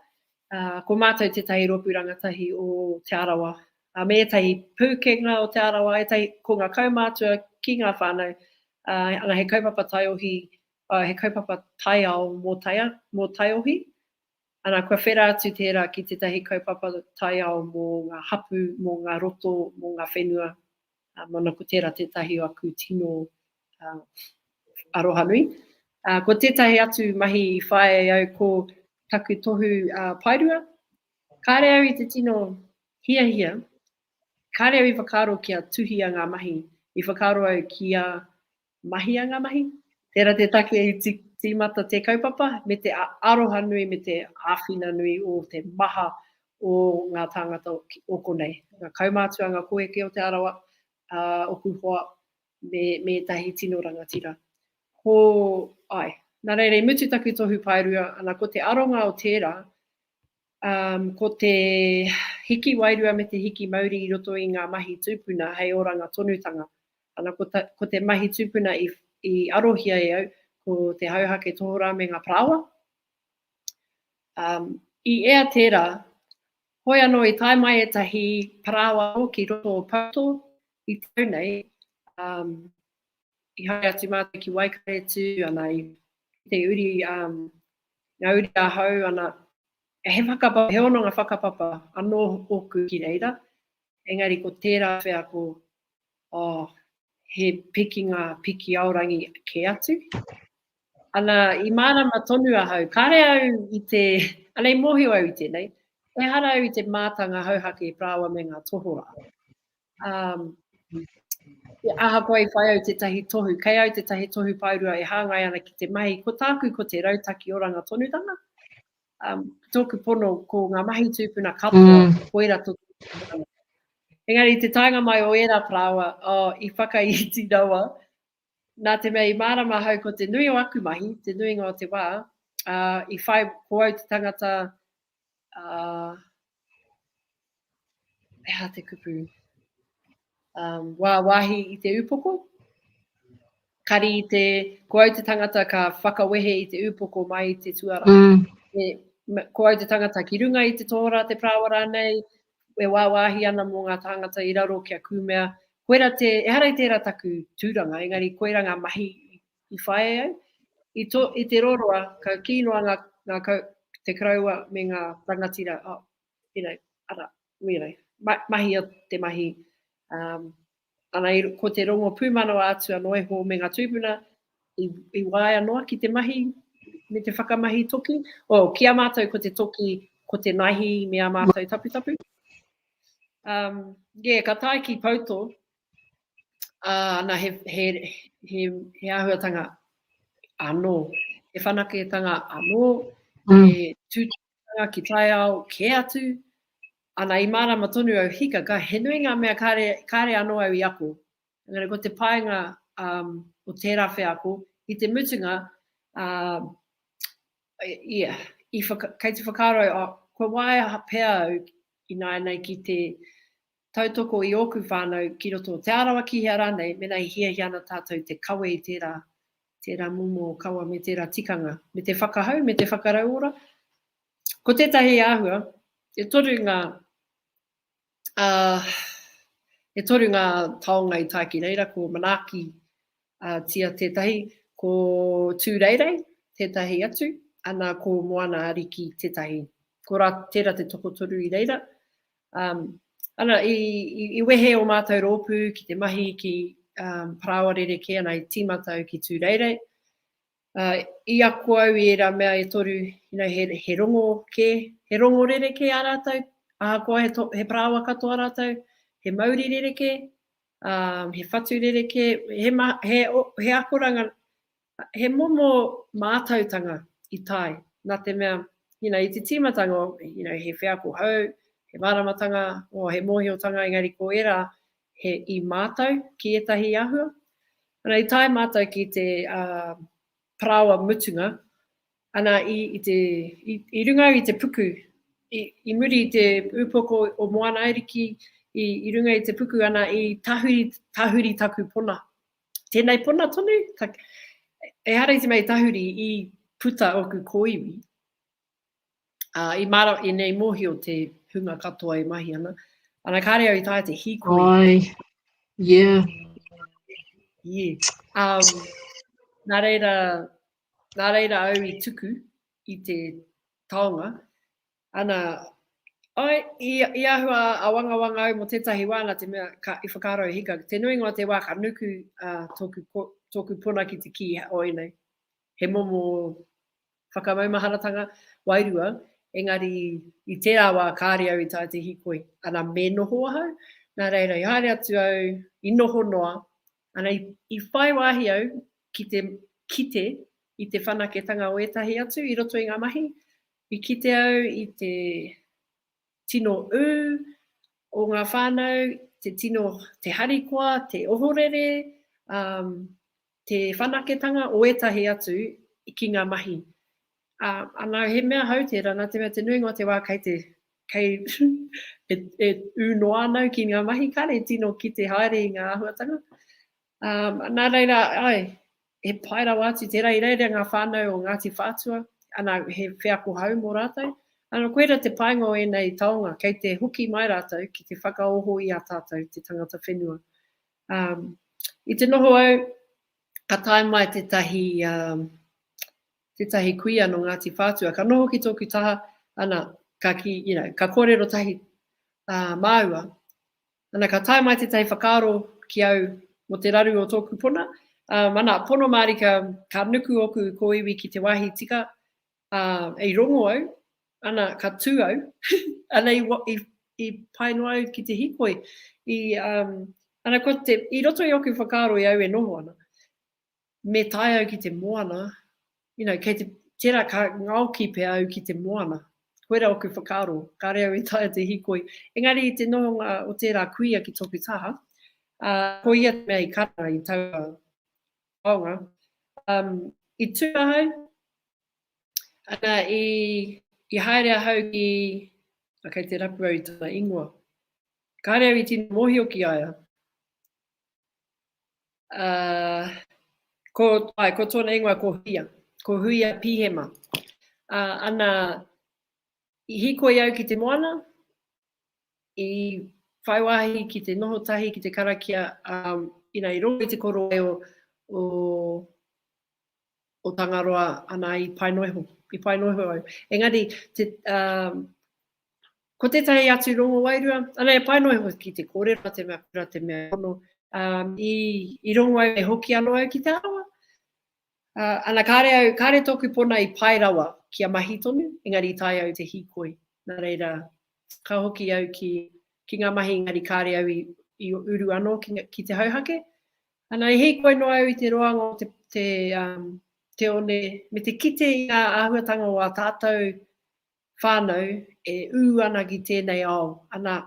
uh, ko matou tetahi ropu rangatahi o Te Arawa, uh, me etahi pukenga o Te Arawa, etahi, ko nga kaumatua ki nga whanau, uh, ana he kaupapa taiohi, uh, he kaupapa taiao mo taia, mo taiohi, Ana, kua whera atu tērā ki tētahi kaupapa taiao mō ngā hapū, mō ngā roto, mō ngā whenua, ā, māna ko tērā tētahi o aku tino arohanui. Ā, ko tētahi atu mahi i whāia e au ko taku tohu paerua. Kāre au i te tino hiahia, kāre au i whakaaro kia tuhia ngā mahi, i whakaaro au kia Mahia ngā mahi. Tērā te take i tīmata te kaupapa me te aroha nui me te āwhina nui o te maha o ngā tāngata o konei. Ngā kaumātua, ngā koeke o Te Arawa, ā, ōku hoa me ētahi tino rangatira. Ko, āe. Nā reira i mutu taku tohu paerua, ana ko te aronga o tērā, Um, ko te hiki wairua me te hiki mauri i roto i ngā mahi tūpuna hei oranga tonutanga. Ana, ko, ta, ko te mahi tūpuna i, i arohia e au, ko te hauhake tohorā me ngā parāoa. Um, I ea tērā, hoi anō i tae mai ētahi parāoa ki roto o Pauto i tau nei, um, i haere atu mātou ki Waikaretu, ana i te uri um, Nā uri ahau ana, he whakapapa, he hononga whakapapa anō ōku ki reira, engari ko tērā whea ko, oh, he pikinga piki aorangi kē atu. Ana, i mārama tonu ahau, kāre au i te, ana i mōhio au i tēnei, ehara au i te mātanga hauhake rāua me ngā tohorā. Um, ahakoa i whai au tētahi tohu, kei au tētahi tohu paurua e hāngai ana ki te mahi, ko tāku ko te rautaki oranga tonutanga. Um, tōku pono ko ngā mahi tūpuna katoa, mm. koira tō Engari, te taenga mai o ērā parāoa, oh, i whakaiti rawa, Nā te mea i mārama ahau ko te nui o aku mahi, te nuinga o te wā, ā, i whai, ko au te tangata, ā, he aha te kupu, um, wāwahi i te upoko, kari i te, ko au te tangata ka whakawehe i te upoko mai i te tuara. Mm. E, ko au te tangata ki runga i te tōra, te prāwa rānei, e wāwāhi ana mō ngā tāngata i raro kia kūmea, koira te, ehara i tērā taku tūranga, engari koira ngā mahi i whāia ai. I, to, i te roroa, ka kī noa ngā, ngā kau, te karaua me ngā rangatira, oh, you know, ara, you know, ma, mahia te mahi, um, Ana, ko te rongo pūmanawa atu anō iho me ngā tūpuna i waea noa ki te mahi me te whakamahi toki. Oh, ki a mātou ko te toki, ko te naihi me ā mātou taputapu. Um, yeah, ka tae ki Pouto, uh, ana he, he, he, he āhuatanga anō, he whanaketanga anō, mm. he tūtanga whakaaturanga ki taiao kē atu, ana i mārama tonu au hika, ka he nui ngā mea kāre, kāre anō au i ako. Engari ko te painga um, o tērā wheako, i te mutunga, um, ia, i whaka, kei te whakaaro au, oh, kua waea pea au ināianei ki te Tautoko i ōku whānau ki roto o Te Arawa, ki hea rānei, mēnā i hiahia ana tātou te kawe i tērā, tērā momo kawa me tērā tikanga, me te whakahau, me te whakarauora. Ko tētahi āhua, e toru ngā, ā, e toru ngā taonga i tae ki reira, ko Manaaki, ā, tia tētahi, ko Tūreirei tētahi atu, ana ko Moana-a-Riki tētahi. Ko rā, tērā te tokotoru i reira, Ana, i wehe o mātou rōpū ki te mahi ki parāoa rerekē, ana, i tīmata au ki Tūreirei. I ako au i ērā mea e toru, he rongo kē, he rongo rerekē ā rātou, ahakoa he parāoa katoa rātou, he mauri rerekē, he whatu rerekē, he akoranga He momo mātautanga i tae, nā te mea, you know, i te tīmatanga o, you know, he wheako hou, he māramatanga, o, he mōhiotanga, engari ko ērā he i mātau ki ētahi āhua. Ana, i tae mātau ki te parāoa mutunga, ana, i, i te, i, i runga au i te puku, i, i muri i te ūpoko o Moana Ariki, i, i runga i te puku, ana, i tahuri, tahuri taku pona. Tēnei pona tonu, ka, ehara i te mea tahuri i puta oku kōiwi, ā, i māra i nei mōhio te hunga katoa e mahi ana, ana kāre au i tāia te hīkoi. Ai, yeah. Yeah. Um, nā reira, nā reira au i tuku i te taonga, Ana, āe, i āhua āwangawanga au mō tētahi wā nā te mea ka, i whakaaro au hika, te nuinga o te wā ka nuku tōku, tōku puna ki te kī o ēnei, he momo whakamaumaharatanga wairua, engari i tērā wā kāre au i taea te hīkoi. Ana, me noho ahau, nā reira i haere atu au, i noho noa, ana, i, i whai wāhi au ki te kite i te whanaketanga o ētahi atu i roto i ngā mahi, I kite au i te tino ū o ngā whānau, te tino, te harikoa, te ohorere, ā, te whanaketanga o ētahi atu ki ngā mahi. Ā, anā, he mea hou tērā, nā te mea te nuinga o te wā kei te, kei e ū noa ana au ki ngā mahi, kāre e tino kite haere i ngā āhuatanga. Nā reira, āe, he pai rawa atu tērā i reira i ngā whānau o Ngāti Whātua, ana, he wheako hou mō rātou. Ana, koirā te painga o ēnei taonga, kei te hoki mai rātou ki te whakaoho i a tātou te tangata whenua. I te noho au, ka tae mai tētahi, tētahi kuia nō Ngāti Whātua, ka noho ki tōku taha, ana, ka kī, you know, ka kōrero tahi māua, Ana, ka tae mai tētahi whakaaro ki au mō te raru o tōku pona, ā, ana, pono mārika, ka nuku ōku kōiwi ki te wāhi tika, ā, i rongo au, ana, ka tū au, ana, i, i, i pae noa au ki te hīkoi, i, ā, ana, ko te, i roto i ōku whakaaro i au e noho ana, me tae au ki te moana, you know, kei te, tērā ka ngaoki pea au ki te moana. Koira oku whakaaro, kāre au e taea te hikoi. Engari i te nohonga o tērā kuia ki tōku taha, ā, ko ia te mea i karanga i taua taonga, um, i tū ahau, ana, i, i haere ahau ki, a, kei te rapu au i tana ingoa. Kāre au i tino mōhio ki a ia. Ae, ko tōna ingoa ko Huia, ko Huia Pihema. Ana, i hikoi au ki te moana, i whai wāhi ki te noho tahi ki te karakia, inā i rongo i te korowae o o Tangaroa ana i pai noa iho, i pai noa iho au. Engari, te, um, ko tētahi atu rongo wairua, ana e pai noa iho ki te kōrero a te mea kura, te mea ono, um, i, i rongo au e hoki ano au ki te arawa. Uh, ana kāre au, kāre tōku pona i pai rawa ki a mahi tonu, engari i tai au te hīkoi. Nā reira, ka hoki au ki, ki ngā mahi, engari kāre au i, i uru ano ki, ki te hauhake, Ana, i hīkoi noa au i te roanga o te one me te kite i ngā āhuatanga o ā tātou whānau e ū ana ki tēnei ao. Ana,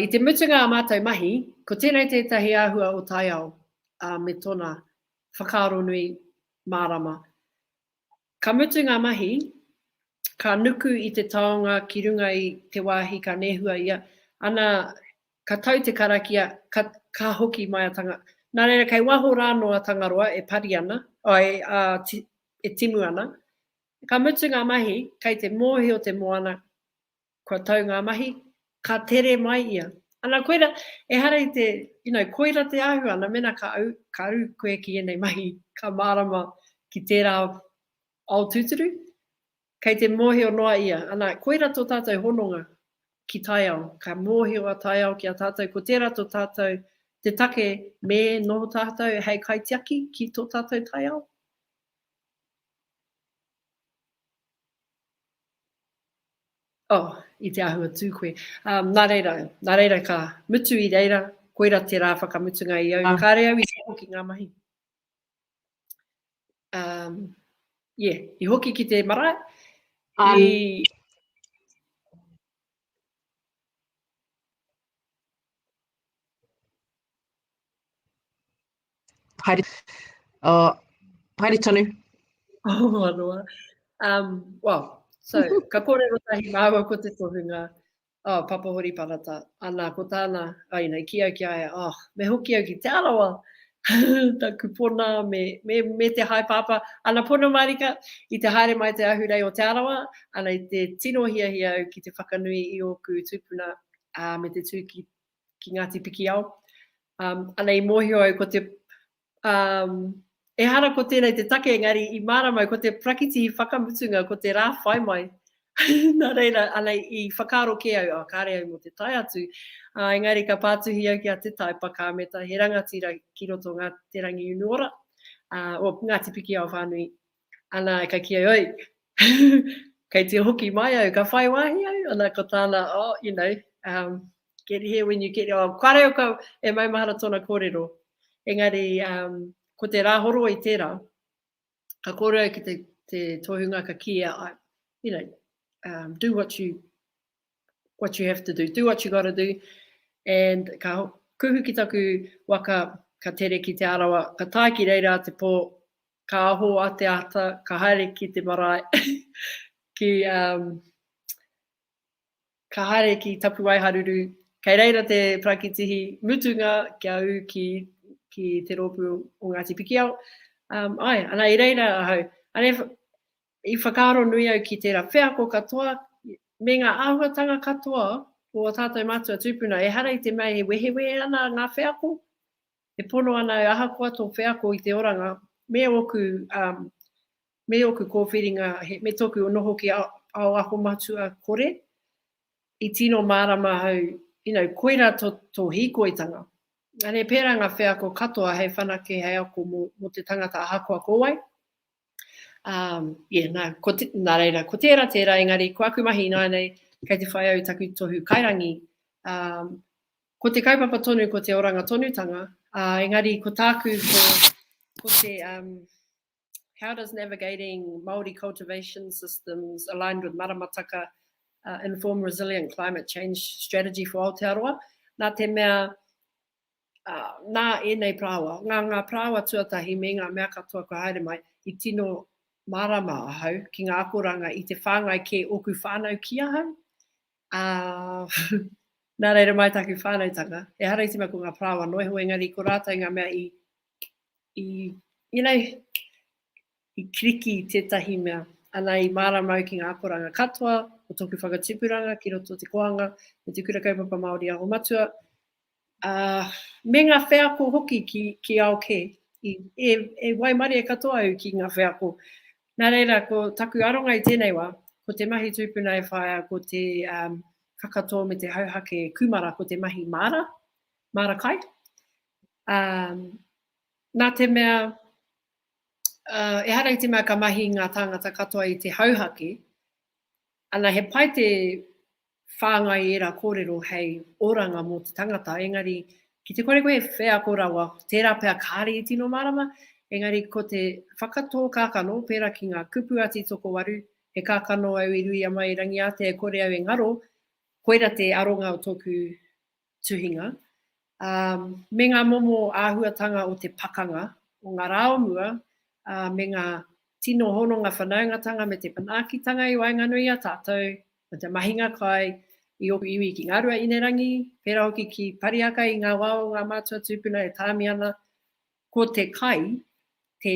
i te mutunga a mātou mahi, ko tēnei tētahi āhua o taiao me tōna whakaaronui mārama. Ka mutu ngā mahi, ka nuku i te taonga ki runga i te wāhi ka nehua ia, ana ka tau te karakia, ka, ka hoki mai a Tanga. Nā reira, kei waho rānō a Tangaroa e pari ana, āe, ā, ti, e timu ana. Ka mutu ngā mahi, kei te mōhio te moana, Kua tau ngā mahi, ka tere mai ia. Ana koira, ehara i te, you know, koira te āhua, ana mena ka au, ka au koe ki ēnei mahi, ka mārama ki tērā ao tūturu, kei te mōhio noa ia, ana, koira tō tātou hononga ki taiao, ka mōhio a taiao ki a tātou, ko tērā tō tātou, te take me noho tātou hei kaitiaki ki tō tātou taiao. Oh, i te āhua tū koe. Um, nā reira, nā reira ka mutu i reira, koira te rā whakamutunga i au. Ah. Kāre au i te hoki ngā mahi. Um, yeah, i hoki ki te marae. Um, i, Haere, uh, haere tonu. Oh, manoa. Um, well, so, ka kōrero tahi māua ko te tohunga, oh, Papa Hori Parata, ana ko tāna, ai nei, ki au ki aia, oh, me hoki au ki Te Arawa, ta kupona me, me, me te hai papa, ana pono marika, i te haere mai te ahurei o Te Arawa, ana i te tino hiahia au ki te whakanui i ōku tūpuna, uh, me te tū ki ki Ngāti Pikiao. Anei mōhio au ko te, ehara ko tēnei te take engari i mārama au ko te prakiti whakamutunga ko te rā whai mai. Nā reira, anei i whakaaro kē au, oh kāre au mō te tae atu. Engari ka pātuhi au ki a Te Tai Pakāmeta, he rangatira ki roto Ngāti Te Rangiunuora, oh Ngāti Pikiao whānui Ana, ka kī ai, oi, kei te hoki mai au, ka whai wāhi au, ana, ko tāna, oh, you know, um, get here when you get here, oh, kare au ka, e maumahara tōna kōrero, engari, um, ko te rā horo i tērā, ka kōrero ki te, te tohunga ka kīia, I, you know, um, do what you, what you have to do, do what you gotta do, and ka kuhu ki taku waka, ka tere ki Te Arawa, ka tae ki reira te pō, Ka aho a Te Ata, ka haere ki te marae, ki, um, ka haere ki Tapuwaeharuru, kei reira te parakitihi mutunga kia ū ki, ki te rōpū o Ngāti Pikiao. Um, ai, ana i reira ahau, ana i whakaaro nui au ki tērā wheako katoa, me ngā āhuatanga katoa o a tātou mātua tūpuna, ehara i te mea e wehewehe ana ngā wheako, E pono ana au ahakoa tō wheako i te oranga me ōku me ōku kōwhiringa me tōku noho ki ao ako matua kore i tino mārama au you know koira tō hīkoitanga Ane pērā ngā wheako katoa hei whanake hei ako mō te tangata ahakoa ko wai yeah nā nā reira ko tērā tērā engari ko aku mahi ināianei kei te whai au i taku tohu kairangi Ko te kaupapa tonu ko te oranga tonutanga, ā, engari ko tāku ko, ko te um, How does navigating Māori cultivation systems aligned with maramataka uh, inform resilient climate change strategy for Aotearoa? Nā te mea, uh, nā ēnei prāwa, ngā, ngā prāwa tuatahi me ngā mea katoa kua haere mai, i tino mārama ahau ki ngā akoranga i te whāngai kē ōku whānau ki ahau, Ā, nā reira mai taku whānautanga. Ehara i te mea ko ngā parāoa anō e hoa, engari ko rātou ngā mea i, i, you know, i kiriki i tētahi mea. Ana, i mārama au ki ngā akoranga katoa o tōku whakatipuranga ki roto o te koanga me te Kura Kaupapa Māori Aho Matua, ā, me ngā wheako hoki ki ao kē. E waimarie katoa au ki ngā wheako. Nā reira, ko taku aronga i tēnei wā, ko te mahi tūpuna e whaia ko te kakatō me te hauhake kūmara ko te mahi māra, māra kai. Ā, nā te mea, ehara i te mea ka mahi ngā tāngata katoa i te hauhake, ana he pai te whāngai ērā kōrero hei oranga mō te tangata, engari ki te kore koe e wheako rawa, tērā pea kāre i tino mārama, engari ko te whakatō kākano, pērā ki ngā kupu a Tītokowaru, he kākano au i Ruiama i Rangiātea e kore au e ngaro, koira te aronga o tōku tuhinga, ā, me ngā momo āhuatanga o te pakanga o ngā rā o mua, ā, me ngā tino hononga whanaungatanga me te manaakitanga i waenganui i a tātou, me te mahinga kai i ōku iwi ki Ngāruaīnerangi, pērā hoki ki Parihaka i ngā wā o ngā mātua tūpuna e tāmi ana, ko te kai te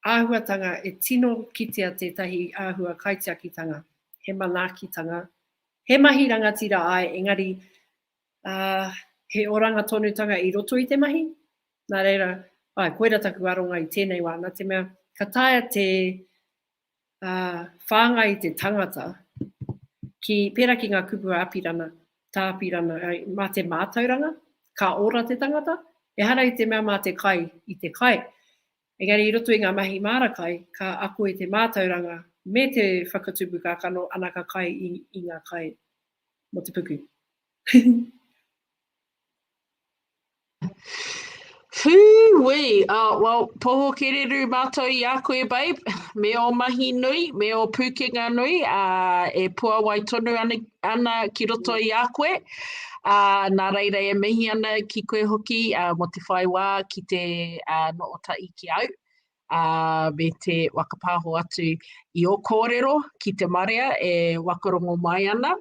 Āhuatanga e tino kitea tētahi āhua kaitiakitanga, he manaakitanga, he mahi rangatira āe engari, ā, he oranga tonutanga i roto i te mahi. Nā reira, āe, koira taku aronga i tēnei wā, nā te mea, ka taea te, ā, whāngai te tangata ki, pērā ki ngā kupu a Apirana, tā Apirana, ā, mā te mātauranga, ka ora te tangata, ehara i te mea mā te kai i te kai. Engari i roto i ngā mahi māra kai, ka ako i te mātauranga me te whakatupu kākano anaka kai i ngā kai mō te puku. Whūwii! Oh, well, poho kereru mātou i a koe, babe, me ō mahi nui, me ō pūkenga nui, ā, e puawai tonu ana ki roto i a koe. Ā, nā reira e mihi ana ki koe hoki mō te whai wā ki te noho tahi ki au, ā, me te whakapāho atu i ō kōrero ki te marea e whakarongo mai ana.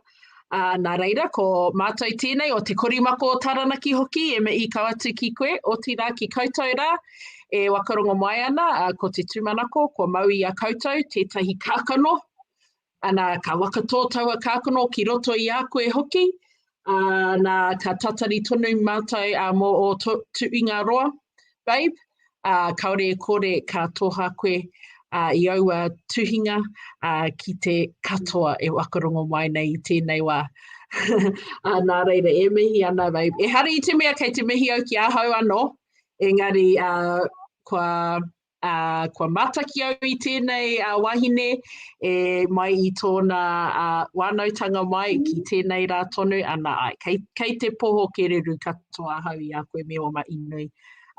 Ā, nā reira, ko mātou tēnei o Te Korimako o Taranaki hoki e mihi kau atu ki koe, otirā ki koutou rā e whakarongo mai ana, ā, ko te tūmanako kua mau i a koutou tētahi kākano Ana, ka wakatō taua kākano ki roto i a koe hoki, ā, nā, ka tatari tonu mātou ā, mō ō to, tuingaroa, babe, ā, kāore e kore ka toha koe ā, i aua tuhinga ā, ki te katoa e whakarongo mai nei i tēnei wā. ā, nā reira, e mihi ana, babe. Ehara i te mea kei te mihi au ki ahau anō, engari ā, kua Ā, kua mātaki au i tēnei wahine e mai i tōna wānautanga mai ki tēnei rā tonu, ana ai. Kei, kei te poho kereru katoa ahau i a koe me ō mahi nui.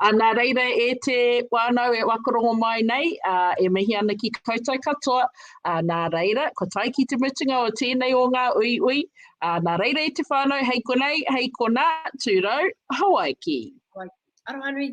Ā, nā reira e te wānau e whakarongo mai nei, ā, e mihi ana ki koutou katoa, ā, nā reira, kua tae ki te mutunga o tēnei o ngā uiui, ā, nā reira e te whānau, hei konei, hei konā, tūrou, Hawaiki! Hawaiki. Arohanui,